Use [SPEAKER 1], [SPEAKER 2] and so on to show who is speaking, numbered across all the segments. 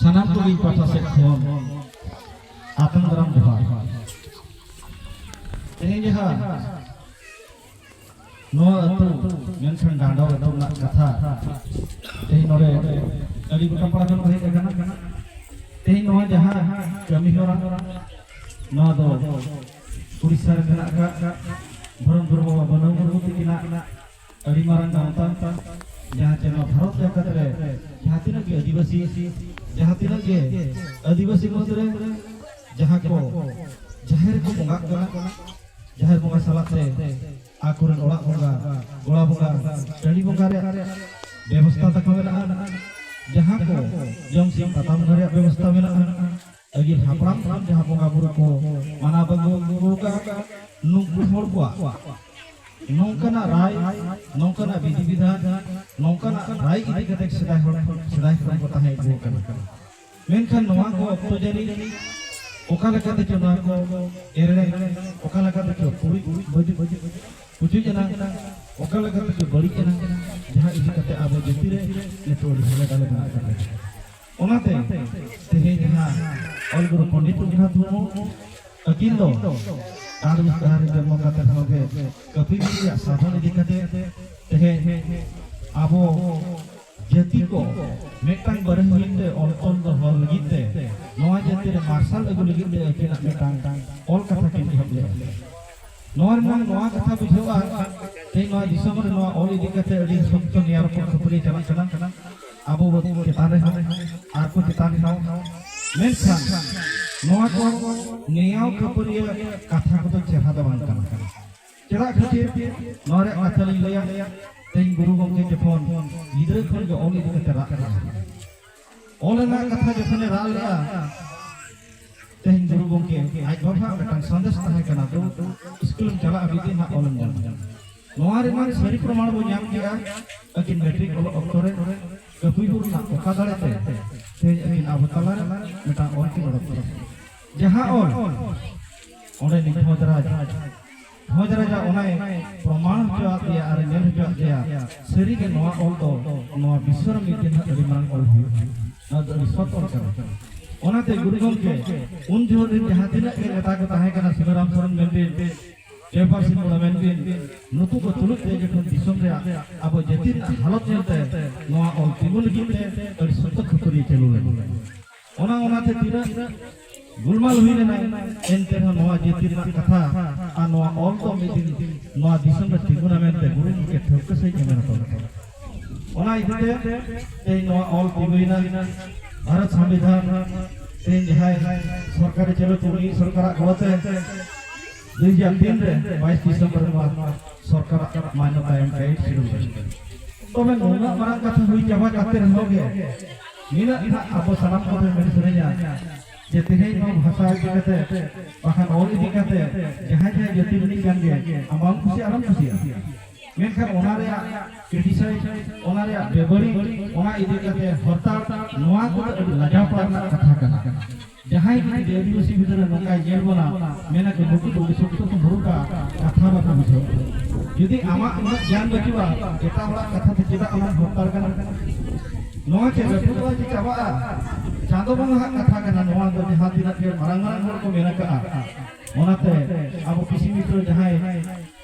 [SPEAKER 1] ᱥᱟᱱᱟᱢ ᱠᱚᱜᱮ ᱯᱟᱦᱴᱟ ᱥᱮᱫ ᱠᱷᱚᱱ ᱟᱛᱟᱝ ᱫᱟᱨᱟᱢ ᱡᱚᱦᱟᱨ ᱛᱮᱦᱮᱧ ᱡᱟᱦᱟᱸ ᱱᱚᱣᱟ ᱟᱹᱛᱩ ᱢᱮᱱᱠᱷᱟᱱ ᱰᱟᱸᱰᱚ ᱟᱹᱛᱩ ᱨᱮᱱᱟᱜ ᱠᱟᱛᱷᱟ ᱛᱮᱦᱮᱧ ᱱᱚᱰᱮ ᱟᱹᱰᱤ ᱜᱚᱴᱟ ᱯᱟᱲᱟ ᱠᱷᱚᱱ ᱦᱮᱡ ᱟᱠᱟᱱᱟ ᱛᱮᱦᱮᱧ ᱱᱚᱣᱟ ᱡᱟᱦᱟᱸ ᱠᱟᱹᱢᱤ ᱦᱚᱨᱟ ᱱᱚᱣᱟ ᱫᱚ ᱩᱲᱤᱥᱥᱟ ᱨᱮ ᱢᱮᱱᱟᱜ ᱟᱠᱟᱫ ᱫᱷᱚᱨᱚᱢ ᱜᱩᱨᱩ ᱵᱟᱵᱟ ᱵᱟᱹᱱᱟᱹᱣ ᱢᱩᱨᱢᱩ ᱛᱤᱠᱤᱱᱟᱜ ᱟᱹᱰᱤ ᱢᱟᱨᱟᱝ ᱜᱟᱶᱛᱟ ᱡᱟᱦᱟᱸ ᱪᱮ ᱱᱚᱣᱟ ᱵᱷᱟᱨᱚᱛ ᱡᱟᱠᱟᱛ ᱨᱮ ᱡᱟᱦᱟᱸ ᱛᱤᱱᱟᱹᱜ ᱜᱮ ᱟᱹᱫᱤᱵᱟᱹᱥᱤ ᱡᱟᱦᱟᱸ ᱛᱤᱱᱟᱹᱜ ᱜᱮ ᱟᱹᱫᱤᱵᱟᱹᱥᱤ ᱢᱩᱫᱽ ᱨᱮ ᱡᱟᱦᱟᱸ ᱠᱚ ᱡᱟᱦᱮᱨ ᱠᱚ ᱵᱚᱸᱜᱟᱜ ᱠᱟᱱᱟ ᱡᱟᱦᱮᱨ ᱵᱚᱸᱜᱟ ᱥᱟᱞᱟᱜ ᱛᱮ ᱟᱠᱚᱨᱮᱱ ᱚᱲᱟᱜ ᱵᱚᱸᱜᱟ ᱜᱚᱲᱟ ᱵᱚᱸᱜᱟ ᱴᱟᱺᱰᱤ ᱵᱚᱸᱜᱟ ᱨᱮᱭᱟᱜ ᱵᱮᱵᱚᱥᱛᱷᱟ ᱛᱟᱠᱚ ᱢᱮᱱᱟᱜᱼᱟ ᱡᱟᱦᱟᱸ ᱠᱚ ᱡᱚᱢ ᱥᱤᱢ ᱯᱟᱛᱟ ᱵᱚᱸᱜᱟ ᱨᱮᱭᱟᱜ ᱵᱮᱵᱚᱥᱛᱷᱟ ᱢᱮᱱᱟᱜᱼᱟ ᱟᱹᱜᱤᱞ ᱦᱟᱯᱲᱟᱢ ᱠᱷᱚᱱ ᱡᱟᱦᱟᱸ ᱵᱚᱸᱜᱟ ᱵᱩᱨᱩ ᱠᱚ ᱢᱟᱱᱟᱣ ᱵᱟᱹᱜᱩ ᱟᱹᱜᱩ ᱟᱠᱟᱫᱼᱟ ᱱᱩᱠᱩ ᱦᱚᱲ ᱠᱚᱣᱟᱜ ᱱᱚᱝᱠᱟᱱᱟᱜ ᱨᱟᱭ ᱱᱚᱝᱠᱟᱱᱟᱜ ᱵᱤᱫᱷᱤ ᱵᱤᱫᱷᱟᱱ ᱱᱚᱝᱠᱟᱱᱟᱜ ᱨᱟᱭ ᱤᱫᱤ ᱠᱟᱛᱮ ᱥᱮᱫᱟᱭ ᱦᱚᱲ ᱥᱮᱫᱟᱭ ᱠᱷᱚᱱ ᱠᱚ ᱛᱟᱦᱮᱸ ᱟᱹᱜᱩ ᱟᱠᱟᱱᱟ ᱢᱮᱱᱠᱷᱟᱱ ᱱᱚᱣᱟ ᱠᱚ ᱚᱠᱛᱚ ᱡᱟᱹᱱᱤ ᱚᱠᱟ ᱞᱮᱠᱟᱛᱮ ᱪᱚ ᱱᱚᱣᱟ ᱠᱚ ᱮᱲᱮ ᱚᱠᱟ ᱞᱮᱠᱟᱛᱮ ᱪᱚ ᱠᱩᱲᱤ ᱵᱟᱹᱡᱩᱜ ᱯᱩᱪᱩᱡ ᱮᱱᱟ ᱚᱠᱟ ᱞᱮᱠᱟᱛᱮ ᱪᱚ ᱵᱟᱹᱲᱤᱡ ᱮᱱᱟ ᱡᱟᱦᱟᱸ ᱤᱫᱤ ᱠᱟᱛᱮ ᱟᱵᱚ ᱡᱟᱹᱛᱤ ᱨᱮ ᱱᱤᱛᱚᱜ ᱟᱹᱰᱤ ᱦᱟᱞᱮ ᱰᱟᱞᱮ ᱢᱮᱱᱟᱜ ᱟᱠᱟᱫᱟ ᱚᱱᱟᱛᱮ ᱛᱮᱦᱮᱧ ᱡᱟᱦᱟᱸ ᱚᱞ ᱜᱩᱨᱩ ᱯᱚᱱᱰᱤᱛ ᱨᱚᱜᱷᱩᱱᱟᱛᱷ ᱢᱩᱨᱢᱩ ᱟᱹᱠᱤᱱ ᱫᱚ ᱟᱨᱵᱤᱥ ᱰᱟᱦᱟᱨ ᱨᱮ ᱡᱚᱱᱢᱚ ᱠᱟᱛᱮ ᱦᱚᱸ ᱜᱮ ᱠᱟᱹᱯᱤ ᱨᱮᱭᱟᱜ ᱥᱟᱫᱷᱚᱱ ᱤᱫᱤ ᱠᱟᱛᱮ ᱛᱮᱦᱮᱧ ᱟᱵᱚ ᱡᱟᱹᱛᱤ ᱠᱚ ᱢᱤᱫᱴᱟᱝ ᱵᱟᱨᱮᱱ ᱞᱟᱹᱜᱤᱫ ᱛᱮ ᱚᱞ ᱛᱚᱞ ᱫᱚᱦᱚ ᱞᱟᱹᱜᱤᱫ ᱛᱮ ᱱᱚᱣᱟ ᱡᱟᱹᱛᱤ ᱨᱮ ᱢᱟᱨᱥᱟᱞ ᱟᱹᱜᱩ ᱞᱟᱹᱜᱤᱫ ᱛᱮ ᱟᱹᱠᱤᱱᱟᱜ ᱢᱤᱫᱴᱟᱝ ᱚᱞ ᱠᱟᱛᱷᱟ ᱠᱤᱱ ᱮᱦᱚᱵ ᱞᱮᱫᱟ ᱱᱚᱣᱟ ᱨᱮᱱᱟᱜ ᱱᱚᱣᱟ ᱠᱟᱛᱷᱟ ᱵᱩᱡᱷᱟᱹᱜᱼᱟ ᱛᱮᱦᱮᱧ ᱱᱚᱣᱟ ᱫᱤᱥᱚᱢ ᱨᱮ ᱱᱚᱣᱟ ᱚᱞ ᱤᱫᱤ ᱠᱟᱛᱮ ᱟᱹᱰᱤ ᱥᱚᱠᱛᱚ ᱱᱮᱭᱟᱨ ᱠᱚ ᱠᱷᱟᱹᱯᱟᱹᱨᱤ ᱪᱟᱞᱟᱜ ᱠᱟᱱᱟ ᱟᱵᱚ ᱪᱮᱛᱟᱱ ᱨᱮᱦᱚᱸ ᱟᱨ ᱠᱚ ᱪᱮᱛᱟᱱ ᱨᱮᱦᱚᱸ ᱢᱮᱱᱠᱷᱟᱱ ᱱᱚᱣᱟ ᱠᱚ ᱱᱮᱭᱟᱣ ᱠᱷᱟᱹᱯᱟᱹᱨᱤᱭᱟᱹ ᱠᱟᱛᱷᱟ ᱠᱚᱫᱚ ᱪᱮᱦᱨᱟ ᱫᱚ ᱵᱟᱝ ᱠᱟᱱᱟ ᱪᱮᱫᱟᱜ ᱠᱷᱟᱹᱛᱤᱨ ᱱᱚᱣᱟ ᱨᱮᱭᱟᱜ ᱠᱟᱛᱷᱟ ᱞᱤᱧ ᱞᱟᱹᱭᱟ ᱛᱮᱦᱮᱧ ᱜᱩᱨᱩ ᱜᱚᱢᱠᱮ ᱡᱚᱠᱷᱚᱱ ᱜᱤᱫᱽᱨᱟᱹ ᱠᱷᱚᱱ ᱜᱮ ᱚᱞ ᱤᱫᱤ ᱠᱟᱛᱮ ᱨᱟᱜ ᱮᱫᱟ ᱚᱞ ᱨᱮᱱᱟᱜ ᱠᱟᱛᱷᱟ ᱡᱚᱠᱷᱚᱱᱮ ᱨᱟᱜ ᱞᱮᱫᱟ ᱛᱮᱦᱮᱧ ᱜᱩᱨᱩ ᱜᱚᱢᱠᱮ ᱟᱡ ᱵᱟᱵᱟ ᱢᱤᱫᱴᱟᱝ ᱥᱟᱸᱫᱮᱥ ᱛᱟᱦᱮᱸ ᱠᱟᱱᱟ ᱫᱩ ᱥᱠᱩᱞᱮᱢ ᱪᱟᱞᱟᱜᱼᱟ ᱢᱤᱫ ᱫᱤᱱ ᱦᱟᱸᱜ ᱚᱞᱮᱢ ᱧᱟᱢᱟ ᱱᱚᱣᱟ ᱨᱮᱱᱟᱜ ᱥᱟᱹᱨᱤ ᱯᱨᱚᱢᱟᱬ ᱵᱚ ᱧᱟᱢ ᱠᱮᱜᱼᱟ ᱟᱹᱠᱤᱱ ᱢᱮᱴᱨᱤᱠ ᱚᱞᱚᱜ ᱚᱠᱛᱚ ᱨᱮ ᱠᱟᱹᱯᱤ ᱵᱩᱨᱩ ᱨᱮᱱᱟᱜ ᱚᱠᱟ ᱫᱟᱲᱮ ᱛᱮ ᱛᱮᱦᱮᱧ ᱟᱹᱠᱤᱱ ᱟᱵᱚ ᱛᱟᱞᱟ ᱨᱮ ᱢᱤᱫᱴᱟᱝ ᱚᱞ ᱠᱤᱱ ᱚᱰᱚᱠ ᱠᱮᱫᱟ ᱡᱟᱦᱟᱸ ᱚᱞ ᱚᱸᱰᱮ ᱱᱤᱡ ᱵᱷᱚᱡᱽᱨᱟᱡᱽ ᱵᱷᱚᱡᱽᱨᱟᱡᱟᱜ ᱚᱱᱟᱭ ᱯᱨᱚᱢᱟᱬ ᱦᱚᱪᱚᱣᱟᱜ ᱞᱮᱭᱟ ᱟᱨ ᱧᱮᱞ ᱦᱚᱪᱚᱣᱟᱜ ᱞᱮᱭᱟ ᱥᱟᱹᱨᱤᱜᱮ ᱱᱚᱣᱟ ᱚᱞ ᱫᱚ ᱱᱚᱣᱟ ᱵᱤᱥᱥᱚ ᱨᱮ ᱢᱤᱫ ᱫᱤᱱ ᱟᱹᱰᱤ ᱢᱟᱨᱟᱝ ᱚᱞ ᱦᱩᱭᱩᱜᱼᱟ ᱱᱚᱣᱟ ᱫᱚ ᱟᱹᱰᱤ ᱥᱚᱛ ᱚᱞ ᱠᱟᱱᱟ ᱚᱱᱟᱛᱮ ᱜᱩᱨᱩ ᱜᱚᱢᱠᱮ ᱩᱱ ᱡᱚᱦᱚᱜ ᱨᱮᱱ ᱡᱟᱦᱟᱸ ᱛᱤᱱᱟᱹᱜ ᱜᱮ ᱱᱮᱛᱟ ᱠᱚ ᱛᱟᱦᱮᱸ ᱠᱟᱱᱟ ᱥᱤᱵᱟᱨᱟᱢ ᱥᱚᱨᱮᱱ ᱢᱮᱱᱰᱮᱞ ᱯᱮᱯᱟᱨ ᱥᱤ ᱠᱚᱲᱟ ᱢᱮᱱ ᱵᱤᱱ ᱱᱩᱠᱩ ᱠᱚ ᱛᱩᱞᱩᱡ ᱛᱮ ᱡᱚᱠᱷᱚᱱ ᱫᱤᱥᱚᱢ ᱨᱮᱭᱟᱜ ᱟᱵᱚ ᱡᱟᱹᱛᱤ ᱨᱮᱱᱟᱜ ᱦᱟᱞᱚᱛ ᱧᱮᱞᱛᱮ ᱱᱚᱣᱟ ᱚᱞ ᱛᱤᱸᱜᱩ ᱞᱟᱹᱜᱤᱫ ᱛᱮ ᱟᱹᱰᱤ ᱥᱚᱠᱛᱚ ᱠᱷᱟᱹᱯᱟᱹᱨᱤ ᱪᱟᱹᱞᱩ ᱞᱮᱱᱟ ᱚᱱᱟ ᱚᱱᱟᱛᱮ ᱛᱤᱱᱟᱹᱜ ᱜᱩᱞᱢᱟᱞ ᱦᱩᱭ ᱞᱮᱱᱟ ᱮᱱᱛᱮ ᱨᱮᱦᱚᱸ ᱱᱚᱣᱟ ᱡᱟᱹᱛᱤ ᱨᱮᱱᱟᱜ ᱠᱟᱛᱷᱟ ᱟᱨ ᱱᱚᱣᱟ ᱚᱞ ᱫᱚ ᱢᱤᱫ ᱫᱤᱱ ᱱᱚᱣᱟ ᱫᱤᱥᱚᱢ ᱨᱮ ᱛᱤᱸᱜᱩᱱᱟ ᱢᱮᱱᱛᱮ ᱜᱩᱨᱩ ᱜᱚᱢᱠᱮ ᱴᱷᱟᱹᱣᱠᱟᱹ ᱥᱟᱺᱦᱤᱡ ᱮ ᱢᱮᱱ ᱦᱚᱴᱚ ᱞᱮᱫᱟ ᱚᱱᱟ ᱤᱫᱤᱛᱮ ᱛᱮᱦᱮᱧ ᱱᱚᱣᱟ ᱚᱞ ᱛᱤᱸᱜᱩᱭᱮᱱᱟ ᱵᱷᱟᱨᱚᱛ ᱥᱚᱝᱵᱤᱫᱷᱟᱱ ᱛᱮᱦᱮᱧ ᱡᱟᱦᱟᱸᱭ ᱥᱚᱨᱠᱟᱨᱮ ᱪᱟᱹᱞᱩ ᱪᱩᱲᱤ ᱥᱚᱨᱠᱟᱨᱟᱜ ᱜᱚᱲᱚᱛᱮ ᱫᱩᱭ ᱦᱟᱡᱟᱨ ᱛᱤᱱ ᱨᱮ ᱵᱟᱭᱤᱥ ᱰᱤᱥᱮᱢᱵᱚᱨ ᱱᱚᱣᱟ ᱥᱚᱨᱠᱟᱨᱟᱜ ᱢᱟᱱᱭᱚᱛᱟ ᱮᱢ ᱠᱟᱛᱮ ᱥᱤᱨᱩ ᱛᱚᱵᱮ ᱱᱩᱱᱟᱹᱜ ᱢᱟᱨᱟᱝ ᱠᱟᱛᱷᱟ ᱦᱩᱭ ᱪᱟᱵᱟ ᱠᱟᱛᱮ ᱨᱮᱦᱚᱸ ᱜᱮ ᱱᱤᱱᱟᱹᱜ ᱱᱟᱜ ᱟᱵᱚ ᱥᱟᱱᱟᱢ ᱠᱚᱛᱮ ᱢᱮᱱ ᱥᱮᱨᱮᱧᱟ ᱡᱮ ᱛᱮᱦᱮᱧ ᱱᱚᱣᱟ ᱵᱷᱟᱥᱟ ᱤᱫᱤ ᱠᱟᱛᱮ ᱵᱟᱠᱷᱟᱱ ᱚᱞ ᱤᱫᱤ ᱠᱟᱛᱮ ᱡᱟᱦᱟᱸᱭ ᱡᱟᱦᱟᱸᱭ ᱡᱟᱹᱛᱤ ᱨᱤᱱᱤᱡ ᱠᱟᱱ ᱜᱮ ᱟᱢ ᱵᱟᱢ ᱠᱩᱥᱤᱭᱟᱜᱼᱟ ᱟᱞᱚᱢ ᱠᱩᱥᱤᱭᱟᱜᱼᱟ ᱢᱮᱱᱠᱷᱟᱱ ᱚᱱᱟ ᱨᱮᱭᱟᱜ ᱠᱨᱤᱴᱤᱥᱟᱭᱤᱡ ᱚᱱᱟ ᱨᱮᱭᱟᱜ ᱵᱮᱵᱟᱹᱲᱤᱡ ᱚᱱᱟ ᱤᱫᱤ ᱠᱟᱛᱮ ᱦᱚᱨᱛᱟᱲ ᱱᱚᱣᱟ ᱠᱚᱫᱚ ᱟᱹᱰᱤ ᱞᱟᱡᱟᱣ ᱯᱟᱲᱟᱜ ᱨᱮᱱᱟᱜ ᱠᱟᱛᱷᱟ ᱠᱟᱱᱟ ᱡᱟᱦᱟᱸᱭ ᱡᱩᱫᱤ ᱟᱹᱫᱤᱵᱟᱹᱥᱤ ᱜᱤᱫᱽᱨᱟᱹ ᱱᱚᱝᱠᱟᱭ ᱧᱮᱞ ᱵᱚᱱᱟ ᱢᱮᱱᱟ ᱠᱚ ᱱᱩᱠᱩ ᱫᱚ ᱟᱹᱰᱤ ᱥᱚᱠᱛᱚ ᱠᱚ ᱢᱩᱨᱩᱠᱟ ᱠᱟᱛᱷᱟ ᱵᱟᱠᱚ ᱵᱩᱡᱷᱟᱹᱣ ᱡᱩᱫᱤ ᱟᱢᱟᱜ ᱩᱱᱟᱹᱜ ᱜᱮᱭᱟᱱ ᱵᱟᱹᱪᱩᱜᱼᱟ ᱮᱴᱟᱜ ᱦᱚᱲᱟᱜ ᱠᱟᱛᱷᱟ ᱛᱮ ᱪᱮᱫᱟᱜ ᱟᱢᱮᱢ ᱦᱚᱨᱛᱟᱲ ᱠᱟᱱᱟ ᱱᱚᱣᱟ ᱪᱮᱫ ᱞᱟᱹᱴᱩ ᱫᱚ ᱪᱮᱫ ᱪᱟᱵᱟᱜᱼᱟ ᱪᱟᱸᱫᱚ ᱵᱚᱸᱜᱟ ᱦᱟᱜ ᱠᱟᱛᱷᱟ ᱠᱟᱱᱟ ᱱᱚᱣᱟ ᱫᱚ ᱡᱟᱦᱟᱸ ᱛᱤᱱᱟᱹᱜ ᱜᱮ ᱢᱟᱨᱟᱝ ᱢᱟᱨᱟᱝ ᱦᱚᱲ ᱠᱚ ᱢᱮᱱ ᱟᱠᱟᱜᱼᱟ ᱚᱱᱟᱛᱮ ᱟᱵᱚ ᱠᱤᱥᱤ ᱢᱤᱛᱨᱚ ᱡᱟᱦᱟᱸᱭ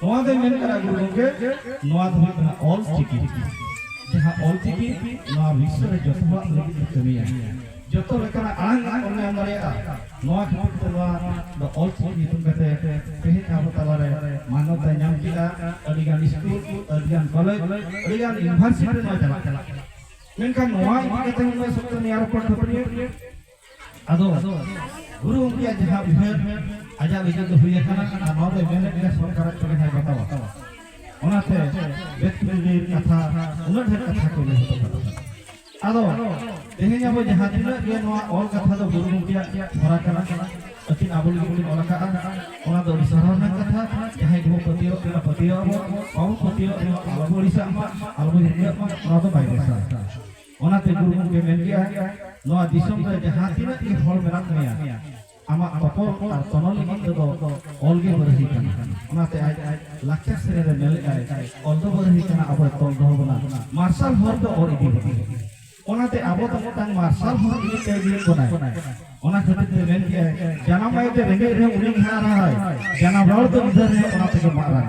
[SPEAKER 1] ᱱᱚᱣᱟ ᱫᱚᱭ ᱢᱮᱱ ᱠᱟᱱᱟ ᱜᱩᱨᱩ ᱜᱚᱢᱠᱮ ᱱᱚᱣᱟ ᱫᱚ ᱦᱩᱭᱩᱜ ᱠᱟᱱᱟ ᱚᱞ ᱪᱤᱠᱤ ᱡᱟᱦᱟᱸ ᱚᱞ ᱪᱤᱠᱤ ᱱᱚᱣᱟ ᱵᱤᱥᱥᱚ ᱨᱮ ᱡᱚᱛᱚ ᱦᱚᱲᱟᱜ ᱞᱟᱹᱜᱤᱫ ᱛᱮ ᱠᱟᱹᱢᱤᱭᱟ ᱡᱚᱛᱚ ᱞᱮᱠᱟᱱᱟᱜ ᱟᱲᱟᱝ ᱟᱲᱟᱝ ᱵᱚᱱ ᱧᱟᱢ ᱫᱟᱲᱮᱭᱟᱜᱼᱟ ᱱᱚᱣᱟ ᱠᱷᱟᱹᱛᱤᱨ ᱛᱮ ᱱᱚᱣᱟ ᱫᱚ ᱚᱞ ᱪᱤᱠᱤ ᱧᱩᱛᱩᱢ ᱠᱟᱛᱮ ᱛᱮᱦᱮᱧ ᱟᱵᱚ ᱛᱟᱞᱟᱨᱮ ᱢᱟᱱᱚᱛ ᱮ ᱧᱟᱢ ᱠᱮᱫᱟ ᱟᱹᱰᱤᱜᱟᱱ ᱥᱠᱩᱞ ᱟᱹᱰᱤᱜᱟᱱ ᱠᱚᱞᱮᱡᱽ ᱟᱹᱰᱤᱜᱟᱱ ᱤᱭᱩᱱᱤᱵᱷᱟᱨᱥᱤᱴᱤ ᱱᱚᱣᱟ ᱪᱟᱞᱟᱜ ᱠᱟᱱᱟ ᱢᱮᱱᱠᱷᱟᱱ ᱱᱚᱣᱟ ᱤᱫᱤ ᱠᱟᱛᱮ ᱱᱚᱣᱟ ᱥᱚᱠᱛᱚ ᱱᱮᱭᱟᱨ ᱯᱚᱨ ᱠᱷᱟᱹᱯᱟᱹᱨᱤᱭᱟᱹ ᱟᱫᱚ ᱜᱩᱨᱩ ᱜᱚᱢᱠᱮᱭᱟᱜ ᱡᱟᱦᱟᱸ ᱩᱭᱦᱟᱹᱨ ᱟᱡᱟᱜ ᱞᱟᱹᱜᱤᱫ ᱫᱚ ᱦᱩᱭ ᱟᱠᱟᱱᱟ ᱟᱨ ᱱᱚᱣᱟ ᱫᱚ ᱢᱮᱱᱮᱫ ᱜᱮᱭᱟ ᱥᱚᱨᱠᱟᱨᱟᱜ ᱪᱚᱞᱮ ᱦᱟᱭ ᱵᱟᱛᱟᱣᱟ ᱚᱱᱟᱛᱮ ᱵᱮᱛᱯᱩᱨᱤᱨ ᱠᱟᱛᱷᱟ ᱩᱱᱟᱹᱜ ᱰᱷᱮᱨ ᱠᱟᱛᱷᱟ ᱠᱚ ᱞᱟᱹᱭ ᱦᱚᱴᱚ ᱠᱟᱫᱟ ᱟᱫᱚ ᱛᱮᱦᱮᱧ ᱟᱵᱚ ᱡᱟᱦᱟᱸ ᱛᱤᱱᱟᱹᱜ ᱜᱮ ᱱᱚᱣᱟ ᱚᱞ ᱠᱟᱛᱷᱟ ᱫᱚ ᱜᱩᱨᱩ ᱜᱚᱢᱠᱮᱭᱟᱜ ᱦᱚᱨᱟ ᱠᱟᱱᱟ ᱟᱹᱠᱤᱱ ᱟᱵᱚ ᱞᱟᱹᱜᱤᱫ ᱠᱤᱱ ᱚᱞ ᱟᱠᱟᱫᱼᱟ ᱚᱱᱟ ᱫᱚ ᱟᱹᱰᱤ ᱥᱟᱨᱦᱟᱣ ᱨᱮᱱᱟᱜ ᱠᱟᱛᱷᱟ ᱡᱟᱦᱟᱸᱭ ᱜᱮᱵᱚ ᱯᱟᱹᱛᱭᱟᱹᱣ ᱠᱟᱱᱟ ᱯᱟᱹᱛᱭᱟᱹᱣ ᱟᱵᱚ ᱵᱟᱵᱚ ᱯᱟᱹᱛᱭᱟᱹᱣ ᱟᱵᱚ ᱟᱞᱚᱵᱚ ᱟᱹᱲᱤᱥᱟᱜ ᱢᱟ ᱟᱞᱚᱵᱚ ᱦᱤᱨᱠᱟᱹᱜ ᱢᱟ ᱱᱚᱣᱟ ᱫᱚ ᱵᱟᱭ ᱵᱮᱥᱟ ᱚᱱᱟᱛᱮ ᱜᱩᱨᱩ ᱜᱚᱢᱠᱮ ᱢᱮᱱ ᱠᱮᱜᱼᱟ ᱱᱚᱣᱟ ᱫᱤᱥᱚᱢ ᱨᱮ ᱡᱟᱦᱟᱸ ᱛᱤᱱᱟᱹᱜ ᱜᱮ ᱦᱚᱲ ᱢᱮᱱᱟᱜ ᱢᱮᱭᱟ ᱟᱢᱟᱜ ᱛᱚᱯᱚᱞ ᱟᱨ ᱛᱚᱱᱚᱞ ᱞᱟᱹᱜᱤᱫ ᱛᱮᱫᱚ ᱚᱞ ᱜᱮ ᱵᱟᱹᱨᱦᱤ ᱠᱟᱱᱟ ᱚᱱᱟᱛᱮ ᱟᱡ ᱞᱟᱠᱪᱟᱨ ᱥᱮᱨᱮᱧ ᱨᱮ ᱢᱮᱱ ᱞᱮᱫᱟᱭ ᱚᱞ ᱫᱚ ᱵᱟᱹᱨᱦᱤ ᱠᱟᱱᱟ ᱟᱵᱚᱭ ᱛᱚᱞ ᱫᱚᱦᱚ ᱵᱚᱱᱟ ᱢᱟᱨᱥᱟᱞ ᱦᱚᱨ ᱫᱚ ᱚᱨ ᱤᱫᱤ ᱵᱚᱱᱟ ᱚᱱᱟᱛᱮ ᱟᱵᱚ ᱫᱚ ᱢᱤᱫᱴᱟᱝ ᱢᱟᱨᱥᱟᱞ ᱦᱚᱨ ᱤᱫᱤ ᱛᱮ ᱤᱫᱤᱭᱮᱫ ᱵᱚᱱᱟᱭ ᱚᱱᱟ ᱠᱷᱟᱹᱛᱤᱨ ᱛᱮ ᱢᱮᱱ ᱠᱮᱜᱼᱟᱭ ᱡᱟᱱᱟᱢ ᱟᱭᱳ ᱛᱮ ᱨᱮᱸᱜᱮᱡ ᱨᱮ ᱩᱱᱤ ᱜᱮ ᱦᱟᱨᱟᱭ ᱡᱟᱱᱟᱢ ᱨᱚᱲ ᱫᱚ ᱜᱤᱫᱟᱹᱨ ᱨᱮ ᱚᱱᱟ ᱛᱮᱜᱮ ᱢᱟᱨᱟᱝ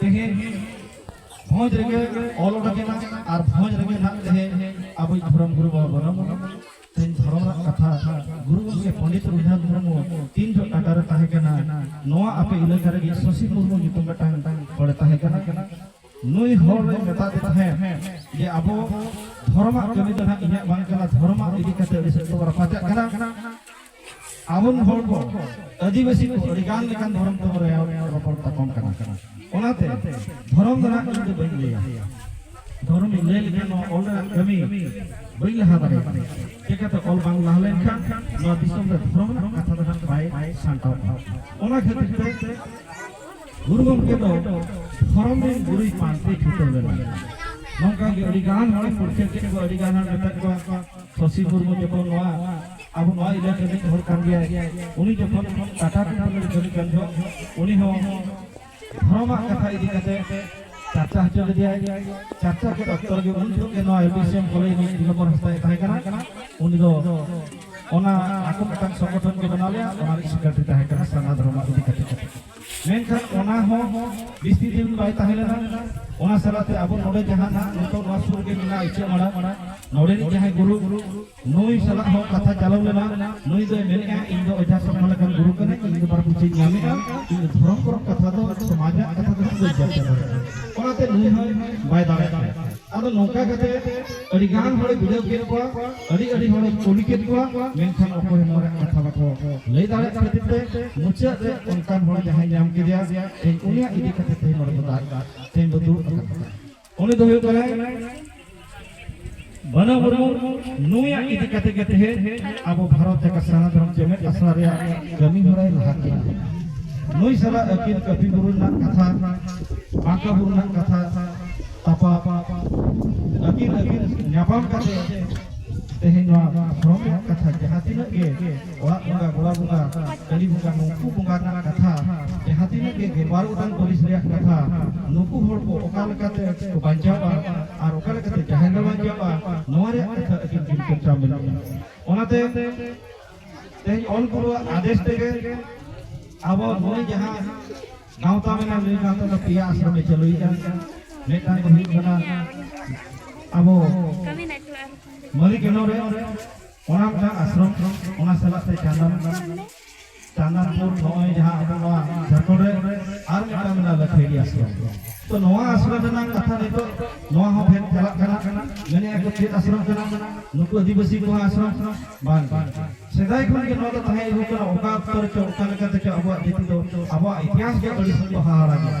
[SPEAKER 1] ᱛᱮᱦᱮᱧ ᱵᱷᱚᱸᱡᱽ ᱨᱮᱜᱮ ᱚᱞ ᱚᱰᱚᱠ ᱮᱱᱟ ᱟᱨ ᱵᱷᱚᱸᱡᱽ ᱨᱮᱜᱮ ᱱᱟᱜ ᱛᱮᱦᱮᱧ ᱟᱵᱚᱭᱤᱡ ᱫᱷᱚᱨᱚᱢ ᱜᱩᱨᱩ ᱵᱟᱵᱟ ᱵᱚᱱᱚᱢ ᱛᱮᱦᱮᱧ ᱫᱷᱚᱨᱚᱢ ᱨᱮᱱᱟᱜ ᱠᱟᱛᱷᱟ ᱜᱩᱨᱩ ᱜᱚᱢᱠᱮ ᱯᱚᱸᱰᱤᱛ ᱨᱚᱜᱷᱩᱱᱟᱛᱷ ᱢᱩᱨᱢᱩ ᱛᱤᱱ ᱡᱚᱜ ᱴᱟᱴᱟ ᱨᱮ ᱛᱟᱦᱮᱸ ᱠᱟᱱᱟ ᱱᱚᱣᱟ ᱟᱯᱮ ᱤᱞᱟᱹᱠᱟ ᱨᱮᱜᱮ ᱥᱚᱥᱤ ᱢᱩᱨᱢᱩ ᱧᱩᱛᱩᱢ ᱢᱤᱫᱴᱟᱝ ᱦᱚᱲᱮ ᱛᱟᱦᱮᱸ ᱠᱟᱱᱟ ᱱᱩᱭ ᱦᱚᱲ ᱨᱮ ᱢᱮᱛᱟᱫᱮ ᱛᱟᱦᱮᱸᱫ ᱡᱮ ᱟᱵᱚ ᱫᱷᱚᱨᱚᱢᱟᱜ ᱠᱟᱹᱢᱤ ᱫᱚ ᱱᱟᱜ ᱤᱧᱟᱹᱜ ᱵᱟᱝ ᱠᱟᱱᱟ ᱫᱷᱚᱨᱚᱢᱟᱜ ᱤᱫᱤ ᱠᱟᱛᱮ ᱟᱹᱰᱤ ᱥᱮᱫ ᱛᱮᱵᱚ ᱨᱟᱯᱟᱪᱟᱜ ᱠᱟᱱᱟ ᱟᱵᱚᱱ ᱦᱚᱲ ᱠᱚ ᱟᱹᱫᱤᱵᱟᱹᱥᱤ ᱠᱚ ᱟᱹᱰᱤ ᱜᱟᱱ ᱞᱮᱠᱟᱱ ᱫᱷᱚᱨᱚᱢ ᱛᱮᱵᱚ ᱨᱮᱭᱟᱣ ᱨᱚᱯᱚᱲ ᱛᱟᱯᱟᱢ ᱠᱟᱱᱟ ᱚᱱᱟᱛᱮ ᱫᱷᱚᱨᱚᱢ ᱫᱚ ᱱᱟᱜ ᱤᱧ ᱫᱚ ᱵᱟᱹᱧ ᱞᱟᱹᱭᱟ ᱫᱷᱚᱨᱚᱢ ᱤᱧ ᱞᱟᱹᱭ ᱞᱮᱠᱷᱟᱱ ᱱᱚᱣᱟ ᱚᱞ ᱨᱮᱱᱟᱜ ᱠᱟᱹᱢᱤ ᱵᱟᱹᱧ ᱞᱟᱦᱟ ᱫᱟᱲᱮᱭᱟᱜ ᱠᱟᱱᱟ ᱪᱤᱠᱟᱹᱛᱮ ᱚᱞ ᱵᱟᱝ ᱞᱟᱦᱟ ᱞᱮᱱᱠᱷᱟᱱ ᱱᱚᱣᱟ ᱫᱤᱥᱚᱢ ᱨᱮ ᱫᱷᱚᱨᱚᱢ ᱨᱮᱱᱟᱜ ᱠᱟᱛᱷᱟ ᱫᱚ ᱱᱟᱜ ᱵᱟᱭ ᱥᱟᱢᱴᱟᱣᱚᱜᱼᱟ ᱚᱱᱟ ᱠᱷᱟᱹᱛᱤᱨ ᱛᱮ ᱜᱩᱨᱩ ᱜᱚᱢᱠᱮ ᱫᱚ ᱫᱷᱚᱨᱚᱢ ᱨᱮᱱ ᱜᱩᱨᱩᱭ ᱯᱟᱱᱛᱮ ᱪᱷᱩᱴᱟᱹᱣ ᱞᱮᱱᱟ ᱱᱚᱝᱠᱟ ᱜᱮ ᱟᱹᱰᱤ ᱜᱟᱱ ᱦᱚᱲ ᱯᱩᱨᱠᱷᱤᱭᱟᱹ ᱠᱮᱫ ᱠᱚᱣᱟ ᱟᱹᱰᱤ ᱜᱟᱱ ᱦᱚᱲ ᱢᱮᱛᱟᱫ ᱠᱚᱣᱟ ᱥᱚᱥᱤ ᱢᱩᱨᱢᱩ ᱡᱚᱠᱷᱚᱱ ᱱᱚᱣᱟ ᱟᱵᱚ ᱱᱚᱣᱟ ᱤᱞᱟᱠᱟ ᱨᱤᱱᱤᱡ ᱦᱚᱲ ᱠᱟᱱ ᱜᱮᱭᱟᱭ ᱩᱱᱤ ᱡᱚᱠᱷᱚᱱ ᱴᱟᱴᱟ ᱠᱚᱢᱯᱟᱱᱤ ᱨᱮ ᱠᱟᱹᱢᱤ ᱠᱟᱱ ᱡᱚᱠᱷᱚᱱ ᱩᱱᱤ ᱦᱚᱸ ᱫᱷᱚᱨᱚᱢᱟᱜ ᱠᱟᱛᱷᱟ ᱤᱫᱤ ᱠᱟᱛᱮ ᱪᱟᱨᱪᱟ ᱦᱚᱪᱚ ᱞᱮᱫᱮᱭᱟᱭ ᱪᱟᱨᱪᱟ ᱠᱮᱫ ᱚᱠᱛᱚ ᱨᱮᱜᱮ ᱩᱱ ᱡᱚᱠᱷᱚᱱ ᱜᱮ ᱱᱚᱣᱟ ᱮᱰᱤᱥᱤᱭᱟᱢ ᱠᱚᱞᱮᱡᱽ ᱨᱤᱱᱤᱡ ᱫᱤᱞᱚᱢᱵᱚᱨ ᱦᱟᱸᱥᱫᱟᱭ ᱛᱟᱦᱮᱸ ᱠᱟᱱᱟ ᱩᱱᱤ ᱫᱚ ᱚᱱᱟ ᱟᱠᱚ ᱢᱤᱫᱴᱟᱝ ᱥᱚᱝᱜᱚᱴᱷᱚᱱ ᱠᱚ ᱵᱮᱱᱟᱣ ᱞᱮᱫᱼᱟ ᱚᱱᱟ ᱨᱤᱱᱤᱡ ᱥᱮᱠᱨᱮᱴᱟᱨᱤ ᱛᱟᱦᱮᱸ ᱠᱟᱱᱟ ᱥᱟᱨᱱᱟ ᱫᱷᱚᱨᱚᱢᱟᱜ ᱤᱫᱤ ᱠᱟᱛᱮ ᱢᱮᱱᱠᱷᱟᱱ ᱚᱱᱟ ᱦᱚᱸ ᱵᱤᱥᱛᱤ ᱫᱤᱱ ᱵᱟᱭ ᱛᱟᱦᱮᱸ ᱞᱮᱱᱟ ᱚᱱᱟ ᱥᱟᱞᱟᱛᱮ ᱟᱵᱚ ᱱᱚᱰᱮ ᱡᱟᱦᱟᱸ ᱱᱤᱛᱚᱜ ᱱᱚᱣᱟ ᱥᱩᱨ ᱜᱮ ᱢᱮᱱᱟᱜᱼᱟ ᱤᱪᱟᱹ ᱢᱟᱲᱟ ᱱᱚᱰᱮ ᱡᱟᱦᱟᱸᱭ ᱜᱩᱨᱩ ᱱᱩᱭ ᱥᱟᱞᱟᱜ ᱦᱚᱸ ᱠᱟᱛᱷᱟ ᱪᱟᱞᱟᱣ ᱞᱮᱱᱟ ᱱᱩᱭ ᱫᱚᱭ ᱢᱮᱱᱮᱜᱼᱟ ᱤᱧ ᱫᱚ ᱚᱡᱷᱟ ᱥᱚᱢᱟ ᱞᱮᱠᱟᱱ ᱜᱩᱨᱩ ᱠᱟᱹᱱᱟᱹᱧ ᱤᱧ ᱫᱚ ᱵᱟᱨ ᱯᱩᱪᱷᱤᱧ ᱧᱟᱢᱮᱜᱼᱟ ᱤᱧ ᱫᱚ ᱫᱷᱚᱨᱚᱢ ᱠᱚᱨᱚᱢ ᱠᱟᱛᱷᱟ ᱫᱚ ᱥᱚᱢᱟᱡᱟᱜ ᱠᱟᱛᱷᱟ ᱫᱚ ᱵᱟᱹᱧ ᱪᱟᱨᱪᱟ ᱫᱟᱲᱮᱭᱟᱜᱼᱟ ᱚᱱᱟᱛᱮ ᱱᱩᱭ ᱦᱚᱸ ᱵᱟᱭ ᱫᱟᱲᱮᱭᱟᱜᱼᱟ ᱟᱫᱚ ᱱᱚᱝᱠᱟ ᱠᱟᱛᱮ ᱟᱹᱰᱤ ᱜᱟᱱ ᱦᱚᱲᱮ ᱵᱩᱡᱷᱟᱹᱣ ᱠᱮᱫ ᱠᱚᱣᱟ ᱟᱹᱰᱤ ᱟᱹᱰᱤ ᱦᱚᱲᱮ ᱠᱩᱞᱤ ᱠᱮᱫ ᱠᱚᱣᱟ ᱢᱮᱱᱠᱷᱟᱱ ᱚᱠᱚᱭ ᱦᱚᱸ ᱱᱚᱣᱟ ᱠᱟᱛᱷᱟ ᱵᱟᱠᱚ ᱞᱟᱹᱭ ᱫᱟᱲᱮᱭᱟᱜ ᱠᱷᱟᱹᱛᱤᱨ ᱛᱮ ᱢᱩᱪᱟᱹᱫ ᱨᱮ ᱚᱱᱠᱟᱱ ᱦᱚᱲ ᱡᱟᱦᱟᱸᱭ ᱧᱟᱢ ᱠᱮᱫᱮᱭᱟ ᱛᱮᱦᱮᱧ ᱩᱱᱤᱭᱟᱜ ᱤᱫᱤ ᱠᱟᱛᱮ ᱛᱮᱦᱮᱧ ᱱᱚᱰᱮ ᱵᱚ ᱫᱟᱜ ᱛᱮᱦᱮᱧ ᱵᱚ ᱫᱩᱲᱩᱵ ᱟᱠᱟᱱᱟ ᱩᱱᱤ ᱫᱚ ᱦᱩᱭᱩᱜ ᱠᱟᱱᱟᱭ ᱵᱟᱱᱟ ᱢᱩᱨᱢᱩ ᱱᱩᱭᱟᱜ ᱤᱫᱤ ᱠᱟᱛᱮ ᱜᱮ ᱛᱮᱦᱮᱧ ᱟᱵᱚ ᱵᱷᱟᱨᱚᱛ ᱡᱟᱠᱟᱛ ᱥᱟᱨᱱᱟ ᱫᱷᱚᱨᱚᱢ ᱪᱮᱢᱮᱫ ᱟᱥᱲᱟ ᱨᱮᱭᱟᱜ ᱠᱟᱹᱢᱤ ᱦᱚᱨᱟᱭ ᱞᱟᱦᱟ ᱠᱮᱫᱟ ᱱᱩᱭ ᱥᱟᱞᱟᱜ ᱟᱹᱠᱤᱱ ᱠᱟᱹᱯᱤ ᱵᱩᱨᱩ ᱨᱮᱱᱟᱜ ᱠᱟᱛᱷᱟ ᱵᱟᱸᱠᱟ ᱵᱩᱨᱩ ᱨᱮᱱᱟᱜ ᱠᱟᱛᱷᱟ ᱛᱟᱯᱟ ᱟᱹᱠᱤᱱ ᱟᱹᱠᱤᱱ ᱧᱟᱯᱟᱢ ᱠᱟᱛᱮ ᱛᱮᱦᱮᱧ ᱱᱚᱣᱟ ᱫᱷᱚᱨᱚᱢ ᱨᱮᱭᱟᱜ ᱠᱟᱛᱷᱟ ᱡᱟᱦᱟᱸ ᱛᱤᱱᱟᱹᱜ ᱜᱮ ᱚᱲᱟᱜ ᱵᱚᱸᱜᱟ ᱜᱚᱲᱟ ᱵᱚᱸᱜᱟ ᱠᱟᱹᱞᱤ ᱵᱚᱸᱜᱟ ᱱᱩᱠᱩ ᱵᱚᱸᱜᱟ ᱨᱮᱱᱟᱜ ᱠᱟᱛᱷᱟ ᱡᱟᱦᱟᱸ ᱛᱤᱱᱟᱹᱜ ᱜᱮ ᱜᱮᱞᱵᱟᱨ ᱜᱚᱴᱟᱝ ᱯᱟᱹᱨᱤᱥ ᱨᱮᱭᱟᱜ ᱠᱟᱛᱷᱟ ᱱᱩᱠᱩ ᱦᱚᱲ ᱠᱚ ᱚᱠᱟ ᱞᱮᱠᱟᱛᱮ ᱠᱚ ᱵᱟᱧᱪᱟᱣᱟ ᱟᱨ ᱚᱠᱟ ᱞᱮᱠᱟᱛᱮ ᱡᱟᱦᱮᱨ ᱨᱮ ᱵᱟᱧᱪᱟᱣᱟ ᱱᱚᱣᱟ ᱨᱮᱭᱟᱜ ᱠᱟᱛᱷᱟ ᱟᱹᱠᱤᱱ ᱠᱤᱱ ᱪᱚᱨᱪᱟ ᱢᱮᱱᱟᱜᱼᱟ ᱚᱱᱟᱛᱮ ᱛᱮᱦᱮᱧ ᱚᱞ ᱜᱩᱨᱩᱣᱟᱜ ᱟᱫᱮᱥ ᱛᱮᱜᱮ ᱟᱵᱚ ᱱᱩᱭ ᱡᱟᱦᱟᱸ ᱜᱟᱶᱛᱟ ᱢᱮᱱᱟᱜ ᱱᱩᱭ ᱜᱟᱶᱛᱟ ᱫᱚ ᱯᱮᱭᱟ ᱟᱥᱨᱚᱢ ᱮ ᱪᱟᱹᱞᱩᱭᱮᱫᱼᱟ ᱢᱤᱫᱴᱟᱝ ᱫᱚ ᱦᱩᱭᱩᱜ ᱠᱟᱱᱟ ᱟᱵᱚ ᱢᱟᱹᱞᱤᱠ ᱮᱱᱚᱨᱮ ᱚᱱᱟ ᱢᱤᱫᱴᱟᱝ ᱟᱥᱨᱚᱢ ᱚᱱᱟ ᱥᱟᱞᱟᱜ ᱛᱮ ᱪᱟᱸᱫᱟᱱ ᱪᱟᱸᱫᱟᱱᱯᱩᱨ ᱱᱚᱜᱼᱚᱭ ᱡᱟᱦᱟᱸ ᱟᱵᱚ ᱱᱚᱣᱟ ᱡᱷᱟᱲᱠᱷᱚᱸᱰ ᱨᱮ ᱟᱨ ᱢᱤᱫᱴᱟᱝ ᱢᱮᱱᱟᱜᱼᱟ ᱞᱟᱹᱠᱷᱮᱲᱤ ᱟᱥᱨᱚᱢ ᱛᱚ ᱱᱚᱣᱟ ᱟᱥᱨᱚᱢ ᱨᱮᱱᱟᱜ ᱠᱟᱛᱷᱟ ᱱᱤᱛᱚᱜ ᱱᱚᱣᱟ ᱦᱚᱸ ᱵᱷᱮᱫ ᱪᱟᱞᱟᱜ ᱠᱟᱱᱟ ᱢᱮᱱᱮᱫ ᱟᱠᱚ ᱪᱮᱫ ᱟᱥᱨᱚᱢ ᱠᱟᱱᱟ ᱱᱩᱠᱩ ᱟᱹᱫᱤᱵᱟᱹᱥᱤ ᱠᱚᱣᱟᱜ ᱟᱥᱨᱚᱢ ᱵᱟᱝ ᱥᱮᱫᱟᱭ ᱠᱷᱚᱱ ᱜᱮ ᱱᱚᱣᱟ ᱫᱚ ᱛᱟᱦᱮᱸ ᱟᱹᱜᱩ ᱠᱟᱱᱟ ᱚᱠᱟ ᱚᱠᱛᱚ ᱨᱮᱪᱚ ᱚᱠᱟ ᱞᱮᱠᱟᱛᱮ ᱪᱚ ᱟᱵᱚᱣᱟᱜ ᱡᱟᱹᱛᱤ ᱫᱚ ᱟᱵᱚᱣᱟᱜ ᱤᱛᱤᱦᱟᱥ ᱜᱮ ᱟᱹᱰᱤ ᱥᱚᱠᱛᱚ ᱦᱟᱦᱟᱲᱟ ᱜᱮᱭᱟ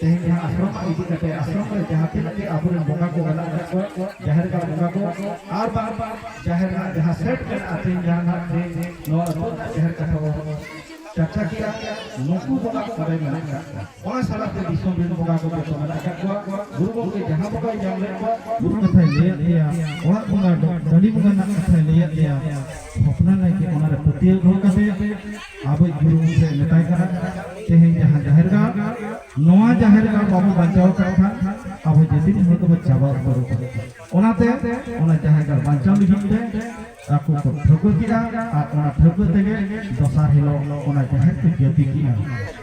[SPEAKER 1] ᱛᱮᱦᱮᱧ ᱡᱟᱦᱟᱸ ᱟᱥᱨᱚᱢ ᱤᱫᱤ ᱠᱟᱛᱮ ᱟᱥᱨᱚᱢ ᱨᱮ ᱡᱟᱦᱟᱸ ᱛᱤᱱᱟᱹᱜ ᱜᱮ ᱟᱵᱚᱨᱮᱱ ᱵᱚᱸᱜᱟ ᱠᱚ ᱢᱮᱱᱟᱜ ᱟᱠᱟᱫ ᱠᱚᱣᱟ ᱡᱟᱦᱮᱨ ᱜᱟᱲ ᱵᱚᱸᱜᱟ ᱠᱚ ᱟᱨ ᱵᱟᱝ ᱡᱟᱦᱮᱨ ᱨᱮᱱᱟᱜ ᱡᱟᱦᱟᱸ ᱥᱮᱴ ᱢᱮᱱᱟᱜᱼᱟ ᱛᱮᱦᱮᱧ ᱡᱟᱦᱟᱸ ᱱᱟᱜ ᱛᱮᱦᱮᱧ ᱱᱚᱣᱟ ᱟᱹᱛᱩ ᱨᱮᱱᱟᱜ ᱡᱟᱦᱮᱨ ᱠᱟᱛᱷᱟ ᱵᱚᱱ ᱪᱟᱨᱪᱟ ᱠᱮᱫᱟ ᱱᱩᱠᱩ ᱵᱚᱸᱜᱟ ᱚᱸᱰᱮ ᱢᱮᱱᱟᱜ ᱟᱠᱟᱫ ᱠᱚᱣᱟ ᱚᱱᱟ ᱥᱟᱞᱟᱜ ᱛᱮ ᱫᱤᱥᱚᱢ ᱨᱮᱱ ᱵᱚᱸᱜᱟ ᱠᱚ ᱡᱚᱛᱚ ᱢᱮᱱᱟᱜ ᱟᱠᱟᱫ ᱠᱚᱣᱟ ᱜᱩᱨᱩ ᱜᱚᱢᱠᱮ ᱡᱟᱦᱟᱸ ᱵᱚᱸᱜᱟᱭ ᱧᱟᱢ ᱞᱮᱫ ᱠᱚᱣᱟ ᱜᱩᱨᱩ ᱠᱟᱛᱷᱟᱭ ᱞᱟᱹᱭᱟᱫ ᱞᱮᱭᱟ ᱚᱲᱟᱜ ᱵᱚᱸᱜᱟ ᱫᱚ ᱰᱟᱹᱞᱤ ᱵᱚᱸᱜᱟ ᱨᱮᱱᱟᱜ ᱠᱟᱛᱷᱟᱭ ᱞᱟᱹᱭᱟᱫ ᱞᱮᱭᱟ ᱦᱚᱯᱱᱟ ᱱᱟᱭᱠᱮ ᱚᱱᱟᱨᱮ ᱯᱟᱹᱛᱭᱟᱹᱣ ᱫᱚᱦᱚ ᱠᱟᱛᱮ ᱟᱵᱚ ᱜᱩᱨᱩ ᱜᱚᱢᱠᱮ ᱢᱮᱛᱟᱭ ᱠᱟᱱᱟ ᱛᱮᱦᱮᱧ ᱡᱟᱦᱟᱸ ᱡᱟᱦᱮᱨ ᱜᱟᱲ ᱱᱚᱣᱟ ᱡᱟᱦᱮᱨ ᱜᱟᱲ ᱵᱟᱵᱚ ᱵᱟᱧᱪᱟᱣ ᱠᱟᱜ ᱠᱷᱟᱱ ᱟᱵᱚ ᱡᱟᱹᱛᱤ ᱦᱚᱲ ᱫᱚᱵᱚ ᱪᱟᱵᱟ ᱩᱛᱟᱹᱨ ᱠᱟᱱᱟ ᱚᱱᱟᱛᱮ ᱚᱱᱟ ᱡᱟᱦᱮᱨ ᱜᱟᱲ ᱵᱟᱧᱪᱟᱣ ᱞᱟᱹᱜᱤᱫ ᱛᱮ ᱟᱠᱚ ᱠᱚ ᱴᱷᱟᱹᱣᱠᱟᱹ ᱠᱮᱫᱼᱟ ᱟᱨ ᱚᱱᱟ ᱴᱷᱟᱹᱣᱠᱟᱹ ᱛᱮᱜᱮ ᱫᱚᱥᱟᱨ ᱦᱤᱞᱳᱜ ᱚᱱᱟ ᱡᱟᱦᱮᱨ ᱠᱚ ᱡᱟᱹᱛᱤ ᱠᱮᱫᱼᱟ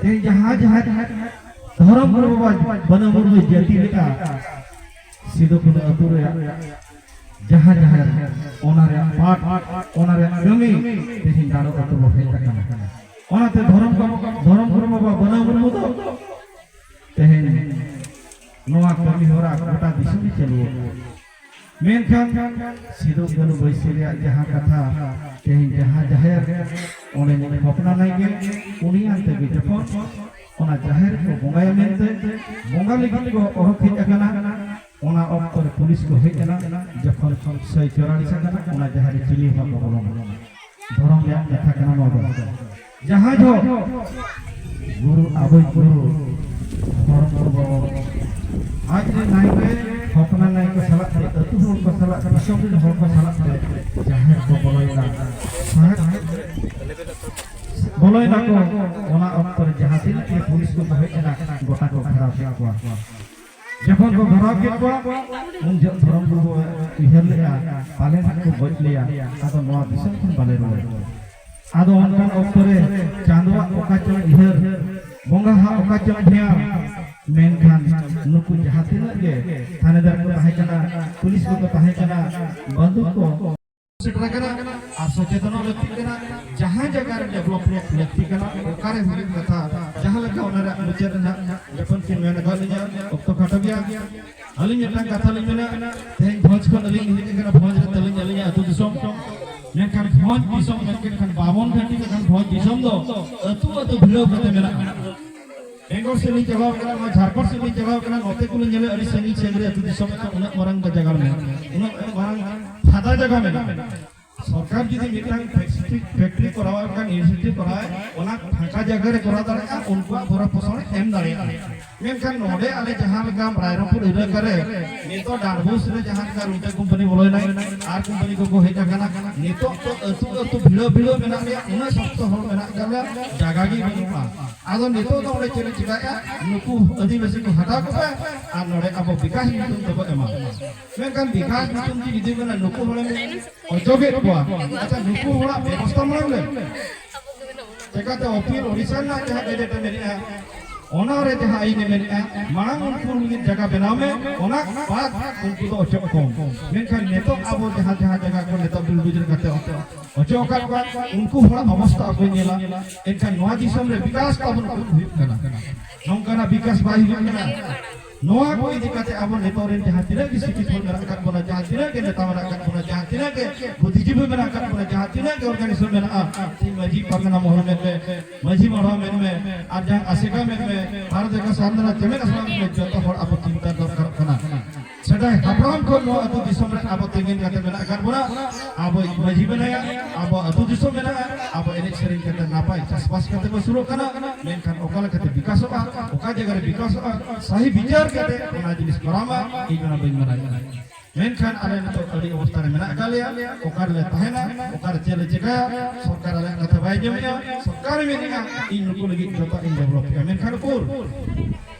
[SPEAKER 1] ᱛᱮᱦᱮᱧ ᱡᱟᱦᱟᱸ ᱡᱟᱦᱮᱨ ᱫᱷᱚᱨᱚᱢ ᱜᱩᱨᱩ ᱵᱟᱵᱟ ᱵᱟᱹᱱᱟᱹ ᱢᱩᱨᱢᱩ ᱡᱟᱹᱛᱤ ᱞᱮᱫᱼᱟ ᱥᱤᱫᱩ ᱠᱟᱹᱱᱩ ᱟᱹᱛᱩ ᱨᱮᱭᱟᱜ ᱡᱟᱦᱟᱸ ᱡᱟᱦᱮᱨ ᱚᱱᱟ ᱨᱮᱭᱟᱜ ᱯᱟᱴ ᱚᱱᱟ ᱨᱮᱭᱟᱜ ᱠᱟᱹᱢᱤ ᱛᱮᱦᱮᱧ ᱫᱟᱲᱚ ᱟᱹᱛᱩ ᱵᱚ ᱦᱮᱡ ᱟᱠᱟᱱᱟ ᱚᱱᱟᱛᱮ ᱫᱷᱚᱨᱚᱢ ᱫᱷᱚᱨᱚᱢ ᱜᱩᱨᱩ ᱵᱟᱵᱟ ᱵᱟᱹᱱᱟᱹ ᱢᱩᱨᱢᱩ ᱫᱚ ᱛᱮᱦᱮᱧ ᱱᱚᱣᱟ ᱠᱟᱹᱢᱤ ᱦᱚᱨᱟ ᱜᱚᱴᱟ ᱫᱤᱥᱚᱢ ᱪᱟᱹᱞᱩ ᱢᱮᱱᱠᱷᱟᱱ ᱥᱤᱫᱩ ᱠᱟᱹᱱᱩ ᱵᱟᱹᱭᱥᱤ ᱨᱮᱭᱟᱜ ᱡᱟᱦᱟᱸ ᱠᱟᱛᱷᱟ ᱛᱮᱦᱮᱧ ᱡᱟᱦᱟᱸ ᱡᱟᱦᱮᱨ ᱚᱸᱰᱮ ᱦᱚᱯᱱᱟ ᱱᱟᱭᱜᱮ ᱩᱱᱤᱭᱟᱱ ᱛᱮᱜᱮ ᱡᱚᱠᱷᱚᱱ ᱚᱱᱟ ᱡᱟᱦᱮᱨ ᱠᱚ ᱵᱚᱸᱜᱟᱭᱟ ᱢᱮᱱᱛᱮ ᱵᱚᱸᱜᱟ ᱞᱟᱹᱜᱤᱫ ᱠᱚ ᱚᱰᱚᱠ ᱦᱮᱡ ᱟᱠᱟᱱᱟ ᱚᱱᱟ ᱚᱠᱛᱚ ᱨᱮ ᱯᱩᱞᱤᱥ ᱠᱚ ᱦᱮᱡ ᱮᱱᱟ ᱡᱚᱠᱷᱚᱱ ᱥᱟᱹᱭ ᱪᱚᱨᱟᱞᱤᱥ ᱟᱠᱟᱱᱟ ᱚᱱᱟ ᱡᱟᱦᱮᱨ ᱨᱮ ᱪᱤᱞᱤ ᱦᱚᱸ ᱵᱟᱠᱚ ᱵᱚᱞᱚᱱᱟ ᱫᱷᱚᱨᱚᱢ ᱨᱮᱭᱟᱜ ᱠᱟᱛᱷᱟ ᱠᱟᱱᱟ ᱱᱚᱣᱟ ᱫᱚ ᱡᱟᱦᱟᱸ ᱫᱚ ᱜᱩᱨᱩ ᱟᱵᱚᱭ ᱜᱩᱨᱩ ᱫᱷᱚᱨᱚᱢ ᱜᱩᱨᱩ ᱟᱡ ᱨᱮ ᱱᱟᱭᱠᱮ ᱦᱚᱯᱱᱟ ᱱᱟᱭᱠᱮ ᱥᱟᱞᱟᱜ ᱛᱮ ᱟᱹᱛᱩ ᱦᱚᱲ ᱠᱚ ᱥᱟᱞᱟᱜ ᱫᱤᱥᱚᱢ ᱨᱮᱱ ᱦᱚᱲ ᱠᱚ ᱥᱟᱞᱟᱜ ᱛᱮ ᱡᱟᱦᱮᱨ ᱠᱚ ᱵᱚᱞᱚᱭᱮᱱᱟ ᱵᱚᱞᱚᱭ ᱱᱟᱠᱚ ᱚᱱᱟ ᱚᱠᱛᱚ ᱨᱮ ᱡᱟᱦᱟᱸ ᱛᱤᱱᱟᱹᱜ ᱜᱮ ᱯᱩᱞᱤᱥ ᱠᱚ ᱦᱮᱡ ᱮᱱᱟ ᱜᱚᱴᱟ ᱠᱚ ᱜᱷᱮᱨᱟᱣ ᱠᱮᱫ ᱠᱚᱣᱟ ᱡᱚᱠᱷᱚᱱ ᱠᱚ ᱜᱷᱮᱨᱟᱣ ᱠᱮᱫ ᱠᱚᱣᱟ ᱩᱱ ᱡᱚᱠᱷᱚᱱ ᱫᱷᱚᱨᱚᱢ ᱠᱚ ᱩᱭᱦᱟᱹᱨ ᱞᱮᱫᱼᱟ ᱯᱟᱞᱮ ᱱᱟᱜ ᱠᱚ ᱜᱚᱡ ᱞᱮᱭᱟ ᱟᱫᱚ ᱱᱚᱣᱟ ᱫᱤᱥᱚᱢ ᱠᱷᱚᱱ ᱵᱟᱞᱮ ᱨᱩᱣᱟᱹᱲ ᱟᱫᱚ ᱚᱱᱠᱟᱱ ᱚᱠᱛᱚ ᱨᱮ ᱪᱟᱸᱫᱚᱣᱟᱜ ᱚᱠᱟ ᱪᱚᱝ ᱩᱭᱦᱟᱹᱨ ᱵᱚᱸᱜᱟ ᱦᱟᱜ ᱚᱠᱟ ᱪᱚᱝ ᱫᱷᱮᱭᱟᱱ ᱢᱮᱱᱠᱷᱟᱱ ᱱᱩᱠᱩ ᱡᱟᱦᱟᱸ ᱛᱤᱱᱟᱹᱜ ᱜᱮ ᱛᱷᱟᱱᱮᱫᱟᱨ ᱠᱚ ᱛᱟᱦᱮᱸ ᱠᱟᱱᱟ ᱯᱩᱞᱤᱥ ᱠᱚᱠᱚ ᱛᱟᱦᱮᱸ ᱠᱟᱱᱟ ᱵᱟᱹᱫᱩ ᱠᱚ ᱟᱨ ᱥᱚᱪᱮᱛᱚᱱᱚᱜ ᱞᱟᱹᱠᱛᱤᱜ ᱠᱟᱱᱟ ᱡᱟᱦᱟᱸ ᱡᱟᱭᱜᱟ ᱨᱮ ᱰᱮᱵᱷᱞᱚᱯ ᱨᱮᱭᱟᱜ ᱞᱟᱹᱠᱛᱤ ᱠᱟᱱᱟ ᱚᱠᱟᱨᱮ ᱦᱩᱭᱩᱜ ᱠᱟᱛᱷᱟ ᱡᱟᱦᱟᱸ ᱞᱮᱠᱟ ᱚᱱᱟ ᱨᱮᱭᱟᱜ ᱢᱩᱪᱟᱹᱫ ᱨᱮᱱᱟᱜ ᱡᱚᱠᱷᱚᱱ ᱠᱤᱱ ᱢᱮᱱ ᱟᱠᱟᱫ ᱞᱤᱧᱟ ᱚᱠᱛᱚ ᱠᱷᱟᱴᱚ ᱜᱮᱭᱟ ᱟᱹᱞᱤᱧ ᱢᱤᱫᱴᱟᱝ ᱠᱟᱛᱷᱟ ᱞᱤᱧ ᱢᱮᱱᱟ ᱛᱮᱦᱮᱧ ᱵᱷᱚᱸᱡᱽ ᱠᱷᱚᱱ ᱟᱹᱞᱤᱧ ᱦᱮᱡ ᱟᱠᱟᱱᱟ ᱵᱷᱚᱸᱡᱽ ᱨᱮ ᱛᱟᱹᱞᱤᱧ ᱟᱹᱞᱤᱧᱟᱜ ᱟᱹᱛᱩ ᱫᱤᱥᱚᱢ ᱢᱮᱱᱠᱷᱟᱱ ᱵᱷᱚᱸᱡᱽ ᱫᱤᱥᱚᱢ ᱢᱮᱱᱠᱷᱟᱱ ᱵᱟᱵᱚᱱ ᱜᱷᱟᱹᱴᱤ ᱞᱮᱠᱷᱟᱱ ᱵᱷᱚᱸᱡᱽ ᱫᱤᱥᱚᱢ ᱫᱚ ᱟᱹᱛᱩ ᱟᱹᱛᱩ ᱵᱷᱤᱲᱟᱹᱣ ᱠᱟᱛᱮ ᱢᱮᱱᱟᱜᱼᱟ ᱵᱮᱝᱜᱚᱞ ᱥᱮᱫ ᱞᱤᱧ ᱪᱟᱞᱟᱣ ᱠᱟᱱᱟ ᱱᱚᱣᱟ ᱡᱷᱟᱲᱠᱷᱚᱸᱰ ᱥᱮᱫ ᱞᱤᱧ ᱪᱟᱞᱟᱣ ᱠᱟᱱᱟ ᱱᱚᱛᱮ ᱠᱚᱞᱤᱧ ᱧᱮᱞᱮ ᱟᱹᱰᱤ ᱥᱟᱺᱜᱤᱧ ᱥᱟᱺᱜᱤᱧ ᱨᱮ ᱟᱹᱛᱩ ᱫᱤᱥᱚᱢ ᱨᱮ ᱩᱱᱟᱹᱜ ᱢᱟᱨᱟᱝ ᱡᱟᱭᱜᱟ ᱢᱮᱱᱟᱜᱼᱟ ᱩᱱᱟᱹᱜ ᱢᱟᱨᱟᱝ ᱯᱷᱟᱫᱟ ᱡᱟᱭᱜᱟ ᱢᱮᱱᱟᱜᱼᱟ ᱥᱚᱨᱠᱟᱨ ᱡᱩᱫᱤ ᱢᱤᱫᱴᱟᱝ ᱯᱷᱮᱠᱴᱨᱤ ᱯᱷᱮᱠᱴᱨᱤ ᱠᱚᱨᱟᱣ ᱠᱟᱱ ᱤᱱᱤᱥᱤᱭᱮᱴᱤᱵᱷ ᱠᱚᱨᱟᱣ ᱚᱱᱟ ᱯᱷᱟᱸᱠᱟ ᱡᱟᱭᱜᱟ ᱨᱮ ᱠᱚᱨᱟᱣ ᱫᱟᱲᱮᱭᱟᱜᱼᱟ ᱩᱱᱠᱩᱣᱟᱜ ᱵᱚᱨᱚ ᱯᱚᱥᱚᱬ ᱮᱢ ᱫᱟᱲᱮᱭᱟᱜᱼᱟ ᱢᱮᱱᱠᱷᱟᱱ ᱱᱚᱰᱮ ᱟᱞᱮ ᱡᱟᱦᱟᱸ ᱞᱮᱠᱟ ᱨᱟᱭᱨᱚᱝᱯᱩᱨ ᱮᱞᱟᱠᱟ ᱨᱮ ᱱᱤᱛᱚᱜ ᱰᱟᱱᱵᱩᱥ ᱨᱮ ᱡᱟᱦᱟᱸ ᱞᱮᱠᱟ ᱨᱩᱴᱟ ᱠᱳᱢᱯᱟᱱᱤ ᱵᱚᱞᱚᱭᱱᱟᱭ ᱟᱨ ᱠᱳᱢᱯᱟᱱᱤ ᱠᱚᱠᱚ ᱦᱮᱡ ᱟᱠᱟᱱᱟ ᱱᱤᱛᱚᱜ ᱫᱚ ᱟᱹᱛᱩ ᱟᱹᱛᱩ ᱵᱷᱤᱲᱟᱹᱣ ᱵᱷᱤᱲᱟᱹᱣ ᱢᱮᱱᱟᱜ ᱞᱮᱭᱟ ᱩᱱᱟᱹᱜ ᱥᱚᱠᱛᱚ ᱦᱚᱲ ᱢᱮᱱᱟᱜ ᱠᱟᱜ ᱞᱮᱭᱟ ᱡᱟᱭᱜᱟ ᱜᱮ ᱵᱟᱹᱱᱩᱜᱼᱟ ᱟᱫᱚ ᱱᱤᱛᱚᱜ ᱫᱚ ᱚᱸᱰᱮ ᱪᱮᱫ ᱮ ᱪᱤᱠᱟᱭᱟ ᱱᱩᱠᱩ ᱟᱹᱫᱤᱵᱟᱹᱥᱤ ᱠᱚ ᱦᱟᱛᱟᱣ ᱠᱚᱯᱮ ᱟᱨ ᱱᱚᱰᱮ ᱟᱵᱚ ᱵᱤᱠᱟᱥ ᱧᱩᱛᱩᱢ ᱛᱮᱵᱚ ᱮᱢᱟ ᱢᱮᱱᱠᱷᱟᱱ ᱵᱤᱠᱟᱥ ᱧᱩᱛᱩᱢ ᱛᱮ ᱡᱩᱫᱤ ᱢᱮᱱᱟ ᱱᱩᱠᱩ ᱦᱚᱲᱮᱢ ᱚᱪᱚᱜᱮᱫ ᱠᱚᱣᱟ ᱟᱪᱪᱷᱟ ᱱᱩᱠᱩ ᱦᱚᱲᱟᱜ ᱵᱮᱵᱚᱥᱛᱷᱟ ᱢᱟᱲᱟᱝ ᱞᱮ ᱪᱮᱠᱟᱛᱮ ᱚᱯᱤᱞ ᱳᱰᱤᱥᱟ ᱨᱮᱱᱟᱜ ᱡᱟᱦᱟᱸ ᱜᱮᱡᱮᱴ ᱢᱮᱱᱟᱜᱼᱟ ᱚᱱᱟ ᱨᱮ ᱡᱟᱦᱟᱸ ᱟᱹᱭᱤᱱ ᱢᱮᱱᱟᱜᱼᱟ ᱢᱟᱲᱟᱝ ᱩᱱᱠᱩ ᱞᱟᱹᱜᱤᱫ ᱡᱟᱭᱜᱟ ᱵᱮᱱᱟᱣ ᱢᱮ ᱚᱱᱟ ᱵᱟᱫ ᱩᱱᱠᱩ ᱫᱚ ᱚᱪᱚᱜ ᱠᱚᱢ ᱢᱮᱱᱠᱷᱟᱱ ᱱᱤᱛᱚᱜ ᱟᱵᱚ ᱡᱟᱦᱟᱸ ᱡᱟᱦᱟᱸ ᱡᱟᱭᱜᱟ ᱠᱚ ᱱᱤᱛᱚᱜ ᱵᱤᱞᱰᱩᱡ ᱠᱟᱛᱮ ᱚᱪᱚᱜ ᱟᱠᱟᱫ ᱠᱚᱣᱟ ᱩᱱᱠᱩ ᱦᱚᱲᱟᱜ ᱚᱵᱚᱥᱛᱷᱟ ᱚᱠᱚᱭ ᱧᱮᱞᱟ ᱮᱱᱠᱷᱟᱱ ᱱᱚᱣᱟ ᱫᱤᱥᱚᱢ ᱨᱮ ᱵᱤᱠᱟᱥ ᱛᱟᱵᱚᱱ ᱠᱚᱢ ᱦᱩᱭᱩᱜ ᱠᱟᱱᱟ ᱱᱚᱝᱠᱟᱱᱟᱜ ᱵᱤᱠᱟᱥ ᱵᱟᱭ ᱦᱩᱭᱩᱜ ᱠᱟᱱᱟ ᱱᱚᱣᱟ ᱠᱚ ᱤᱫᱤ ᱠᱟᱛᱮ ᱟᱵᱚ ᱱᱤᱛᱚᱜ ᱨᱮᱱ ᱡᱟᱦᱟᱸ ᱛᱤᱱᱟᱹᱜ ᱜᱮ ᱥᱤᱠᱷᱤᱛ ᱦᱚᱲ ᱢᱮᱱᱟᱜ ᱟᱠᱟᱫ ᱵᱚᱱᱟ ᱡᱟᱦᱟᱸ ᱛᱤᱱᱟᱹᱜ ᱜᱮ ᱱᱮᱛᱟ ᱢᱮᱱᱟᱜ ᱟᱠᱟᱫ ᱵᱚᱱᱟ ᱡᱟᱦᱟᱸ ᱛᱤᱱᱟᱹᱜ ᱜᱮ ᱵᱩᱫᱷᱤᱡᱤᱵᱤ ᱢᱮᱱᱟᱜ ᱟᱠᱟᱫ ᱵᱚᱱᱟ ᱡᱟᱦᱟᱸ ᱛᱤᱱᱟᱹᱜ ᱜᱮ ᱚᱨᱜᱟᱱᱤᱡᱮᱥᱚᱱ ᱢᱮᱱᱟᱜᱼᱟ ᱥᱤᱧ ᱢᱟᱹᱡᱷᱤ ᱯᱟᱨᱜᱟᱱᱟ ᱢᱚᱦᱚᱞ ᱢᱮᱱ ᱢᱮ ᱢᱟᱹᱡᱷᱤ ᱢᱚᱦᱚᱞ ᱢᱮᱱ ᱢᱮ ᱟᱨ ᱡᱟᱦᱟᱸ ᱟᱥᱮᱠᱟ ᱢᱮᱱ ᱢᱮ ᱵᱷᱟᱨᱚᱛ ᱡᱟᱠᱟᱛ ᱥᱟᱱᱫᱚᱱᱟ ᱪᱮᱢᱮᱫ ᱟᱥᱲᱟ ᱢᱮᱱ ᱢᱮ ᱡᱚᱛᱚ ᱦᱚᱲ ᱟᱵᱚ ᱪᱤᱱᱛᱟ ᱫᱚᱨᱠᱟᱨᱚᱜ ᱠᱟᱱᱟ ᱥᱮᱫᱟᱭ ᱦᱟᱯᱲᱟᱢ ᱠᱷᱚᱱ ᱱᱚᱣᱟ ᱟᱹᱛᱩ ᱫᱤᱥᱚᱢ ᱨᱮ ᱟᱵᱚ ᱛᱮᱸᱜᱮᱱ ᱠᱟᱛᱮ ᱢᱮᱱᱟᱜ ᱟᱠᱟᱫ ᱵᱚᱱᱟ ᱟᱵᱚ ᱢᱟᱹᱡᱷᱤ ᱢᱮᱱᱟᱭᱟ ᱟᱵᱚ ᱟᱹᱛᱩ ᱫᱤᱥᱚᱢ ᱢᱮᱱᱟᱜᱼᱟ ᱟᱵᱚ ᱮᱱᱮᱡ ᱥᱮᱨᱮᱧ ᱠᱟᱛᱮ ᱱᱟᱯᱟᱭ ᱪᱟᱥᱵᱟᱥ ᱠᱟᱛᱮ ᱵᱚ ᱥᱩᱨᱚᱜ ᱠᱟᱱᱟ ᱢᱮᱱᱠᱷᱟᱱ ᱚᱠᱟ ᱞᱮᱠᱟᱛᱮ ᱵᱤᱠᱟᱥᱚᱜᱼᱟ ᱚᱠᱟ ᱡᱟᱭᱜᱟ ᱨᱮ ᱵᱤᱠᱟᱥᱚᱜᱼᱟ ᱥᱟᱦᱤ ᱵᱤᱪᱟᱨ ᱠᱟᱛᱮ ᱚᱱᱟ ᱡᱤᱱᱤᱥ ᱠᱚᱨᱟᱣ ᱢᱟ ᱤᱧ ᱚᱱᱟ ᱵᱟᱹᱧ ᱢᱟᱱᱟᱣ ᱠᱟᱱᱟ ᱢᱮᱱᱠᱷᱟᱱ ᱟᱞᱮ ᱱᱤᱛᱚᱜ ᱟᱹᱰᱤ ᱚᱵᱚᱥᱛᱟ ᱨᱮ ᱢᱮᱱᱟᱜ ᱟᱠᱟᱫ ᱞᱮᱭᱟ ᱚᱠᱟ ᱨᱮᱞᱮ ᱛᱟᱦᱮᱱᱟ ᱚᱠᱟ ᱨᱮ ᱪᱮᱫ ᱞᱮ ᱪᱮᱠᱟᱭᱟ ᱥᱚᱨᱠᱟᱨ ᱟᱞᱮᱭᱟᱜ ᱠᱟᱛᱷᱟ ᱵᱟᱭ ᱟᱸᱡᱚᱢᱮᱜᱼᱟ ᱥᱚᱨᱠᱟᱨ ᱢᱮᱱᱮᱜᱼᱟ ᱤᱧ ᱱᱩᱠᱩ ᱞᱟᱹᱜᱤᱫ ᱡᱚᱛᱚ ᱤᱧ ᱰᱮᱵᱷᱞᱚᱯᱮᱜᱼᱟ ᱢᱮᱱᱠᱷᱟᱱ ᱩᱠᱩᱨ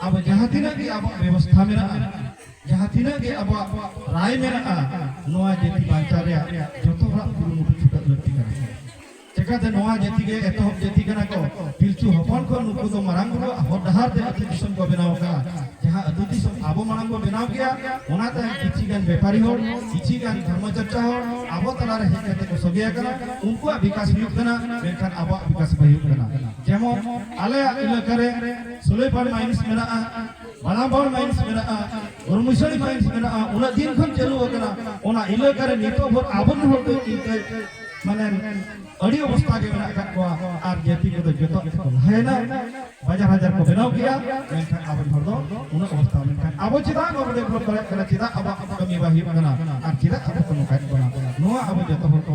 [SPEAKER 1] ᱟᱵᱚ ᱡᱟᱦᱟᱸ ᱛᱤᱱᱟᱹᱜ ᱜᱮ ᱟᱵᱚᱣᱟᱜ ᱵᱮᱵᱚᱥᱛᱷᱟ ᱢᱮᱱᱟᱜᱼᱟ ᱡᱟᱦᱟᱸ ᱛᱤᱱᱟᱹᱜ ᱜᱮ ᱟᱵᱚᱣᱟᱜ ᱨᱟᱭ ᱢᱮᱱᱟᱜᱼᱟ ᱱᱚᱣᱟ ᱡᱟᱹᱛᱤ ᱵᱟᱧᱪᱟᱣ ᱨᱮᱭᱟᱜ ᱡᱚᱛᱚ ᱦᱚᱲᱟᱜ ᱠᱩᱨᱩᱢᱩᱴᱩ ᱪᱷᱩᱴᱟᱹᱜ ᱞᱟᱹᱠᱛᱤ ᱠᱟᱱᱟ ᱪᱮᱠᱟᱛᱮ ᱱᱚᱣᱟ ᱡᱟᱹᱛᱤ ᱜᱮ ᱮᱛᱚᱦᱚᱵ ᱡᱟᱹᱛᱤ ᱠᱟᱱᱟ ᱠᱚ ᱯᱤᱞᱪᱩ ᱦᱚᱯᱚᱱ ᱠᱚ ᱱᱩᱠᱩ ᱫᱚ ᱢᱟᱨᱟᱝ ᱵᱩᱨᱩᱣᱟᱜ ᱦᱚᱨ ᱰᱟᱦᱟᱨ ᱛᱮ ᱟᱹᱛᱩ ᱫᱤᱥᱚᱢ ᱠᱚ ᱵᱮᱱᱟᱣ ᱟᱠᱟᱫᱼᱟ ᱡᱟᱦᱟᱸ ᱟᱹᱛᱩ ᱫᱤᱥᱚᱢ ᱟᱵᱚ ᱢᱟᱲᱟᱝ ᱵᱚ ᱵᱮᱱᱟᱣ ᱠᱮᱜᱼᱟ ᱚᱱᱟ ᱛᱟᱭᱚᱢ ᱠᱤᱪᱷᱤ ᱜᱟᱱ ᱵᱮᱯᱟᱨᱤ ᱦᱚᱲ ᱠᱤᱪᱷᱤ ᱜᱟᱱ ᱫᱷᱚᱨᱢᱚ ᱪᱚᱨᱪᱟ ᱦᱚᱲ ᱟᱵᱚ ᱛᱟᱞᱟᱨᱮ ᱦᱮᱡ ᱠᱟᱛᱮ ᱠᱚ ᱥᱚᱜᱮ ᱟᱠᱟᱱᱟ ᱩᱱᱠᱩᱣᱟᱜ ᱵᱤᱠᱟᱥ ᱦᱩᱭᱩᱜ ᱠᱟᱱᱟ ᱢᱮᱱᱠᱷᱟᱱ ᱟᱵᱚᱣᱟᱜ ᱵᱤᱠᱟᱥ ᱵᱟᱭ ᱦᱩᱭᱩᱜ ᱠᱟᱱᱟ ᱡᱮᱢᱚᱱ ᱟᱞᱮᱭᱟᱜ ᱮᱞᱟᱠᱟ ᱨᱮ ᱥᱩᱞᱮᱯᱟᱲ ᱢᱟᱭᱤᱱᱥ ᱢᱮᱱᱟᱜᱼᱟ ᱵᱟᱞᱟᱢᱵᱟᱲ ᱢᱟᱭᱤᱱᱥ ᱢᱮᱱᱟᱜᱼᱟ ᱜᱩᱨᱢᱩᱥᱟᱲᱤ ᱢᱟᱭᱤᱱᱥ ᱢᱮᱱᱟᱜᱼᱟ ᱩᱱᱟᱹᱜ ᱫᱤᱱ ᱠᱷᱚᱱ ᱪᱟᱹᱞᱩ ᱟᱠᱟᱱᱟ ᱚᱱᱟ ᱤᱞᱟᱹᱠᱟ ᱨᱮ ᱱᱤᱛᱚᱜ ᱵᱷᱳᱨ ᱟᱵᱚ ᱦᱚᱲ ᱫᱚ ᱤᱱᱠᱟᱹ ᱢᱟᱱᱮ ᱟᱹᱰᱤ ᱚᱵᱚᱥᱛᱟ ᱜᱮ ᱢᱮᱱᱟᱜ ᱟᱠᱟᱫ ᱠᱚᱣᱟ ᱟᱨ ᱡᱟᱹᱛᱤ ᱠᱚᱫᱚ ᱡᱚᱛᱚ ᱜᱮᱠᱚ ᱞᱟᱦᱟᱭᱮᱱᱟ ᱵᱟᱡᱟᱨ ᱦᱟᱡᱟᱨ ᱠᱚ ᱵᱮᱱᱟᱣ ᱠᱮᱜᱼᱟ ᱢᱮᱱᱠᱷᱟᱱ ᱟᱵᱚ ᱦᱚᱲ ᱫᱚ ᱩᱱᱟᱹᱜ ᱚᱵᱚᱥᱛᱟ ᱢᱮᱱᱠᱷᱟᱱ ᱟᱵᱚ ᱪᱮᱫᱟᱜ ᱵᱟᱵᱚ ᱰᱮᱵᱷᱞᱚᱯ ᱫᱟᱲᱮᱭᱟᱜ ᱠᱟᱱᱟ ᱪᱮᱫᱟᱜ ᱟᱵᱚᱣᱟᱜ ᱠᱟᱹᱢᱤ ᱵᱟᱭ ᱦᱩᱭᱩᱜ ᱠᱟᱱᱟ ᱟᱨ ᱪᱮᱫᱟᱜ ᱟᱵᱚ ᱠᱚ ᱱᱚᱝᱠᱟᱭᱮᱫ ᱵᱚᱱᱟ ᱱᱚᱣᱟ ᱟᱵᱚ ᱡᱚᱛᱚ ᱦᱚᱲ ᱠᱚ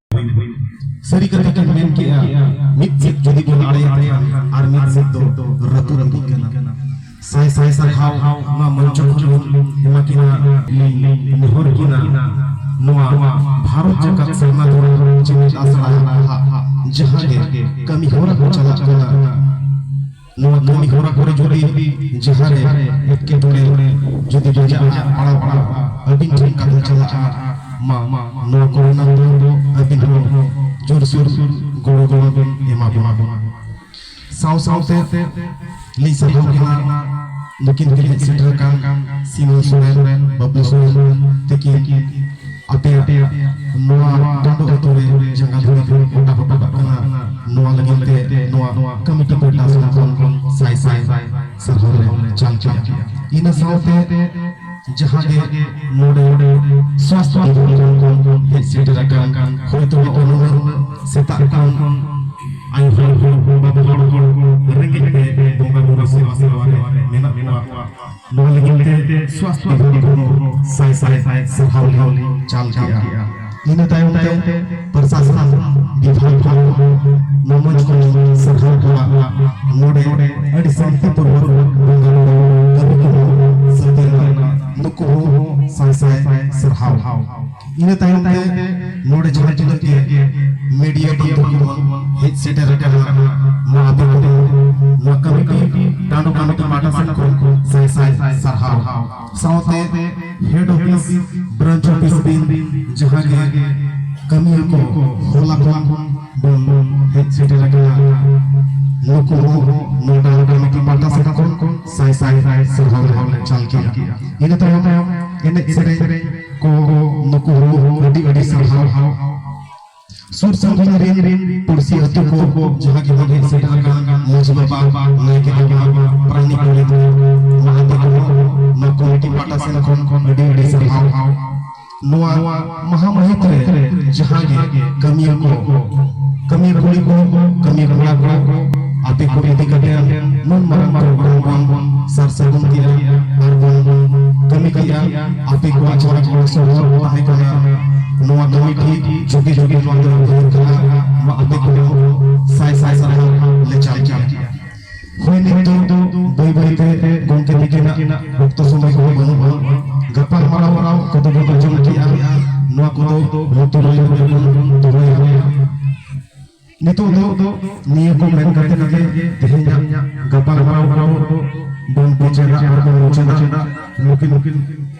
[SPEAKER 1] ᱥᱟᱹᱨᱤ ᱠᱟᱛᱷᱟ ᱠᱤᱱ ᱢᱮᱱ ᱠᱮᱜᱼᱟ ᱢᱤᱫ ᱥᱮᱫ ᱡᱩᱫᱤ ᱵᱚᱱ ᱟᱲᱮᱭᱟ ᱟᱨ ᱢᱤᱫ ᱥᱮᱫ ᱫᱚ ᱨᱟᱹᱛᱩ ᱨᱟᱹᱯᱩᱫ ᱠᱟᱱᱟ ᱥᱟᱭ ᱥᱟᱭ ᱥᱟᱨᱦᱟᱣ ᱱᱚᱣᱟ ᱢᱚᱧᱪᱚ ᱠᱷᱚᱱ ᱮᱢᱟ ᱠᱤᱱᱟ ᱱᱮᱦᱚᱨ ᱠᱤᱱᱟ ᱱᱚᱣᱟ ᱵᱷᱟᱨᱚᱛ ᱡᱟᱠᱟᱛ ᱥᱮᱨᱢᱟ ᱫᱷᱚᱨᱚᱢ ᱡᱮᱜᱮᱛ ᱟᱥᱲᱟ ᱡᱟᱦᱟᱸ ᱜᱮ ᱠᱟᱹᱢᱤ ᱦᱚᱨᱟ ᱠᱚ ᱪᱟᱞᱟᱜ ᱠᱟᱱᱟ ᱱᱚᱣᱟ ᱠᱟᱹᱢᱤ ᱦᱚᱨᱟ ᱠᱚᱨᱮ ᱡᱩᱫᱤ ᱡᱟᱦᱟᱸ ᱨᱮ ᱮᱴᱠᱮᱴᱚᱬᱮ ᱡᱩᱫᱤ ᱵᱟᱡᱟᱜ ᱯᱟᱲᱟᱣ ᱯᱟᱲᱟᱣ ᱟᱹᱵᱤᱱ ᱴᱷᱮᱱ ᱠᱟᱛᱷᱟ ᱪᱟᱞᱟᱜᱼᱟ ᱢᱟ ᱱᱚᱣᱟ ᱠᱚᱨᱮᱱᱟᱜ ᱫᱚ ᱟᱹᱵᱤᱱ ᱦᱚᱸ ᱡᱳᱨ ᱥᱳᱨ ᱜᱚᱲᱚ
[SPEAKER 2] ᱜᱚᱲᱚ ᱵᱤᱱ ᱮᱢᱟ ᱵᱚᱱᱟ ᱥᱟᱶ ᱥᱟᱶᱛᱮ ᱞᱤᱧ ᱥᱟᱨᱦᱟᱣ ᱠᱟᱱᱟ ᱱᱩᱠᱤᱱ ᱛᱮᱜᱮ ᱥᱮᱴᱮᱨ ᱟᱠᱟᱱ ᱥᱤᱢᱚᱞ ᱥᱚᱨᱮᱱ ᱵᱟᱹᱵᱞᱩ ᱥᱚᱨᱮᱱ ᱛᱤᱠᱤᱱ ᱟᱯᱮᱭᱟᱜ ᱱᱚᱣᱟ ᱴᱟᱺᱰᱩ ᱟᱹᱛᱩ ᱨᱮ ᱡᱟᱸᱜᱟ ᱫᱷᱩᱲᱤ ᱠᱚ ᱜᱚᱴᱟ ᱦᱚᱴᱚ ᱠᱟᱜ ᱠᱟᱱᱟ ᱱᱚᱣᱟ ᱞᱟᱹᱜᱤᱫ ᱛᱮ ᱱᱚᱣᱟ ᱠᱚᱢᱤᱴᱤ ᱯᱟᱦᱴᱟ ᱥᱮᱫ ᱠᱷᱚᱱ ᱥᱟᱭ ᱥᱟᱭ ᱥᱟᱨᱦᱟᱣ ᱞᱮ ᱪᱟᱞ ᱠᱮᱫᱼᱟ ᱤᱱᱟᱹ ᱥᱟᱶᱛᱮ ᱡᱟᱦᱟᱸ ᱜᱮ ᱱᱚᱰᱮ ᱥᱟᱥᱛᱷ ᱵᱤᱵᱷᱟᱜ ᱠᱷᱚᱱ ᱦᱮᱡ ᱥᱮᱴᱮᱨ ᱟᱠᱟᱱ ᱦᱚᱭᱛᱳ ᱱᱩᱱᱟᱹᱜ ᱥᱮᱛᱟᱜ ᱠᱷᱚᱱ ᱟᱭᱳ ᱦᱚᱲ ᱵᱟᱵᱟ ᱦᱚᱲ ᱨᱮᱸᱜᱮᱡ ᱛᱮ ᱵᱚᱸᱜᱟ ᱵᱩᱨᱩ ᱥᱮᱵᱟ ᱥᱮᱵᱟ ᱨᱮ ᱢᱮᱱᱟᱜ ᱠᱚᱣᱟ ᱱᱚᱣᱟ ᱞᱟᱹᱜᱤᱫ ᱛᱮ ᱥᱣᱟᱥᱛᱷᱚ ᱵᱤᱵᱷᱟᱜᱽ ᱦᱚᱸ ᱥᱟᱭ ᱥᱟᱭ ᱥᱟᱨᱦᱟᱣ ᱞᱮ ᱪᱟᱞ ᱠᱮᱜᱼᱟ ᱤᱱᱟᱹ ᱛᱟᱭᱚᱢ ᱛᱮ ᱯᱨᱚᱥᱟᱥᱚᱱ ᱵᱤᱵᱷᱟᱜᱽ ᱦᱚᱸ ᱢᱚᱢᱚᱡᱽ ᱠᱚ ᱥᱟᱨᱦᱟᱣ ᱠᱚᱣᱟ ᱱᱚᱰᱮ ᱟᱹᱰᱤ ᱥᱟᱱᱛᱤᱯᱩᱨᱵᱚᱠ ᱵᱚᱸᱜᱟ ᱵᱩᱨᱩ ᱠᱟᱹᱢᱤ ᱠᱚᱦᱚᱸ ᱥᱟᱹᱛ ᱮᱱᱟ ᱱᱩᱠᱩ ᱦᱚᱸ ᱥᱟᱭ ᱥᱟᱭ ᱥᱟᱨᱦᱟᱣ ᱤᱱᱟᱹ ᱛᱟᱭᱚᱢ ᱛᱮ ᱱᱚᱰᱮ ᱡᱟᱦᱟᱸ ᱛᱤᱱᱟᱹᱜ ᱜᱮ ᱢᱤᱰᱤᱭᱟ ᱵᱟᱱᱫᱷᱩ ᱠᱚ ᱦᱮᱡ ᱥᱮᱴᱮᱨ ᱟᱠᱟᱱᱟ ᱱᱚᱣᱟ ᱟᱹᱛᱩ ᱠᱚᱫᱚ ᱱᱚᱣᱟ ᱠᱚᱢᱤᱴᱤ ᱴᱟᱺᱰᱩ ᱠᱚᱢᱤᱴᱤ ᱯᱟᱦᱴᱟ ᱥᱮᱱ ᱠᱷᱚᱱ ᱥᱟᱭ ᱥᱟᱭ ᱥᱟᱨᱦᱟᱣ ᱥᱟᱶᱛᱮ ᱦᱮᱰ ᱚᱯᱷᱤᱥ ᱵᱨᱟᱱᱪ ᱚᱯᱷᱤᱥ ᱵᱤᱱ ᱡᱟᱦᱟᱸ ᱜᱮ ᱠᱟᱹᱢᱤᱭᱟᱹ ᱠᱚ ᱦᱚᱞᱟ ᱠᱷᱚᱱ ᱵᱚᱱ ᱦᱮᱡ ᱥᱮᱴᱮᱨ ᱟᱠᱟᱱᱟ ᱱᱩᱠᱩ ᱦᱚᱸ ᱱᱚᱣᱟ ᱴᱟᱺᱰᱩ ᱠᱚᱢᱤᱴᱤ ᱯᱟᱦᱴᱟ ᱥᱮᱱ ᱠᱷᱚᱱ ᱥᱟᱭ ᱥᱟᱭ ᱥᱟᱨᱦᱟᱣ ᱞᱮ ᱪᱟᱞ ᱠᱮᱫᱼᱟ ᱤᱱᱟᱹ ᱛᱟᱭᱚᱢ ᱮᱱᱮᱡ ᱥᱮᱨᱮᱧ ᱠᱚ ᱱᱩᱠᱩ ᱦᱚᱸ ᱟᱹᱰᱤ ᱟᱹᱰᱤ ᱥᱟᱨᱦᱟᱣ ᱥᱩᱨ ᱥᱟᱺᱜᱤᱧ ᱨᱮᱱ ᱨᱮᱱ ᱯᱩᱲᱥᱤ ᱟᱹᱛᱩ ᱠᱚ ᱠᱚ ᱡᱟᱦᱟᱸ ᱜᱮ ᱵᱚᱱ ᱦᱮᱡ ᱥᱮᱴᱮᱨ ᱟᱠᱟᱱ ᱢᱟᱹᱡᱷᱤ ᱵᱟᱵᱟ ᱱᱟᱭᱠᱮ ᱵᱟᱵᱟ ᱯᱨᱟᱱᱤ ᱠᱚᱞᱮ ᱫᱚ ᱢᱟᱦᱟᱛᱮ ᱠᱚ ᱱᱚᱣᱟ ᱠᱚᱢᱤᱴᱤ ᱯᱟᱦᱴᱟ ᱥᱮᱱ ᱠᱷᱚᱱ ᱠᱷᱚᱱ ᱟᱹᱰᱤ ᱟᱹᱰᱤ ᱥᱟᱨᱦᱟᱣ ᱱᱚᱣᱟ ᱢᱟᱦᱟ ᱢᱟᱹᱦᱤᱛ ᱨᱮ ᱡᱟᱦᱟᱸ ᱜᱮ ᱠᱟᱹᱢᱤᱭᱟᱹ ᱠᱚ ᱠᱟᱹᱢᱤᱭᱟᱹ ᱠᱩᱲᱤ ᱠᱚ ᱠᱟᱹᱢᱤᱭᱟᱹ ᱠᱚᱲᱟ ᱠᱚ ᱟᱯᱮ ᱠᱚ ᱤᱫᱤ ᱠᱟᱛᱮ ᱱᱩᱱ ᱢᱟᱨᱟᱝ ᱯᱨᱳᱜᱨᱟᱢ ᱵᱚᱱ ᱥᱟᱨ ᱥᱟᱹᱜᱩᱱ ᱠᱮᱜᱼᱟ ᱟᱨ ᱵᱚᱱ ᱠᱟᱹᱢᱤ ᱠᱮᱜᱼᱟ ᱟᱹᱰᱤ ᱠᱚᱲᱟ ᱠᱚᱲᱟ ᱠᱚᱲᱟ ᱥᱚᱨᱚᱞ ᱛᱟᱦᱮᱸ ᱠᱟᱱᱟ ᱱᱚᱣᱟ ᱠᱟᱹᱢᱤ ᱴᱷᱤᱠ ᱡᱩᱜᱤ ᱡᱩᱜᱤ ᱱᱚᱣᱟ ᱫᱚ ᱩᱭᱦᱟᱹᱨ ᱠᱟᱱᱟ ᱱᱚᱣᱟ ᱟᱹᱰᱤ ᱠᱚᱲᱟ ᱥᱟᱭ ᱥᱟᱭ ᱥᱟᱨᱦᱟᱣ ᱞᱮ ᱪᱟᱞ ᱠᱮᱫᱟ ᱦᱳᱭ ᱱᱤᱛᱚᱜ ᱫᱚ ᱵᱟᱹᱭ ᱵᱟᱹᱭ ᱛᱮ ᱜᱚᱢᱠᱮ ᱛᱤᱠᱤᱱᱟᱜ ᱚᱠᱛᱚ ᱥᱚᱢᱚᱭ ᱠᱚ ᱵᱟᱹᱱᱩᱜᱼᱟ ᱜᱟᱯᱟᱞ ᱢᱟᱨᱟᱣ ᱢᱟᱨᱟᱣ ᱠᱚᱫᱚ ᱵᱚᱱ ᱟᱸᱡᱚᱢ ᱠᱮᱫᱼᱟ ᱱᱚᱣᱟ ᱠᱚᱫᱚ ᱞᱩᱛᱩᱨ ᱨᱮ ᱵᱚᱱ ᱫᱚᱦᱚᱭᱟ ᱱᱤᱛᱚᱜ ᱫᱚ ᱱᱤᱭᱟᱹ ᱠᱚ ᱢᱮᱱ ᱠᱟᱛᱮ ᱜᱮ ᱛᱮᱦᱮᱧᱟᱜ ᱜᱟᱯᱟᱞ ᱢᱟᱨᱟᱣ ᱫᱚ ᱵᱚᱱ ᱢᱩᱪᱟᱹᱫᱟ ᱟᱨ ᱵᱚᱱ ᱢᱩᱪᱟᱹᱫᱟ ᱱᱩᱠᱤᱱ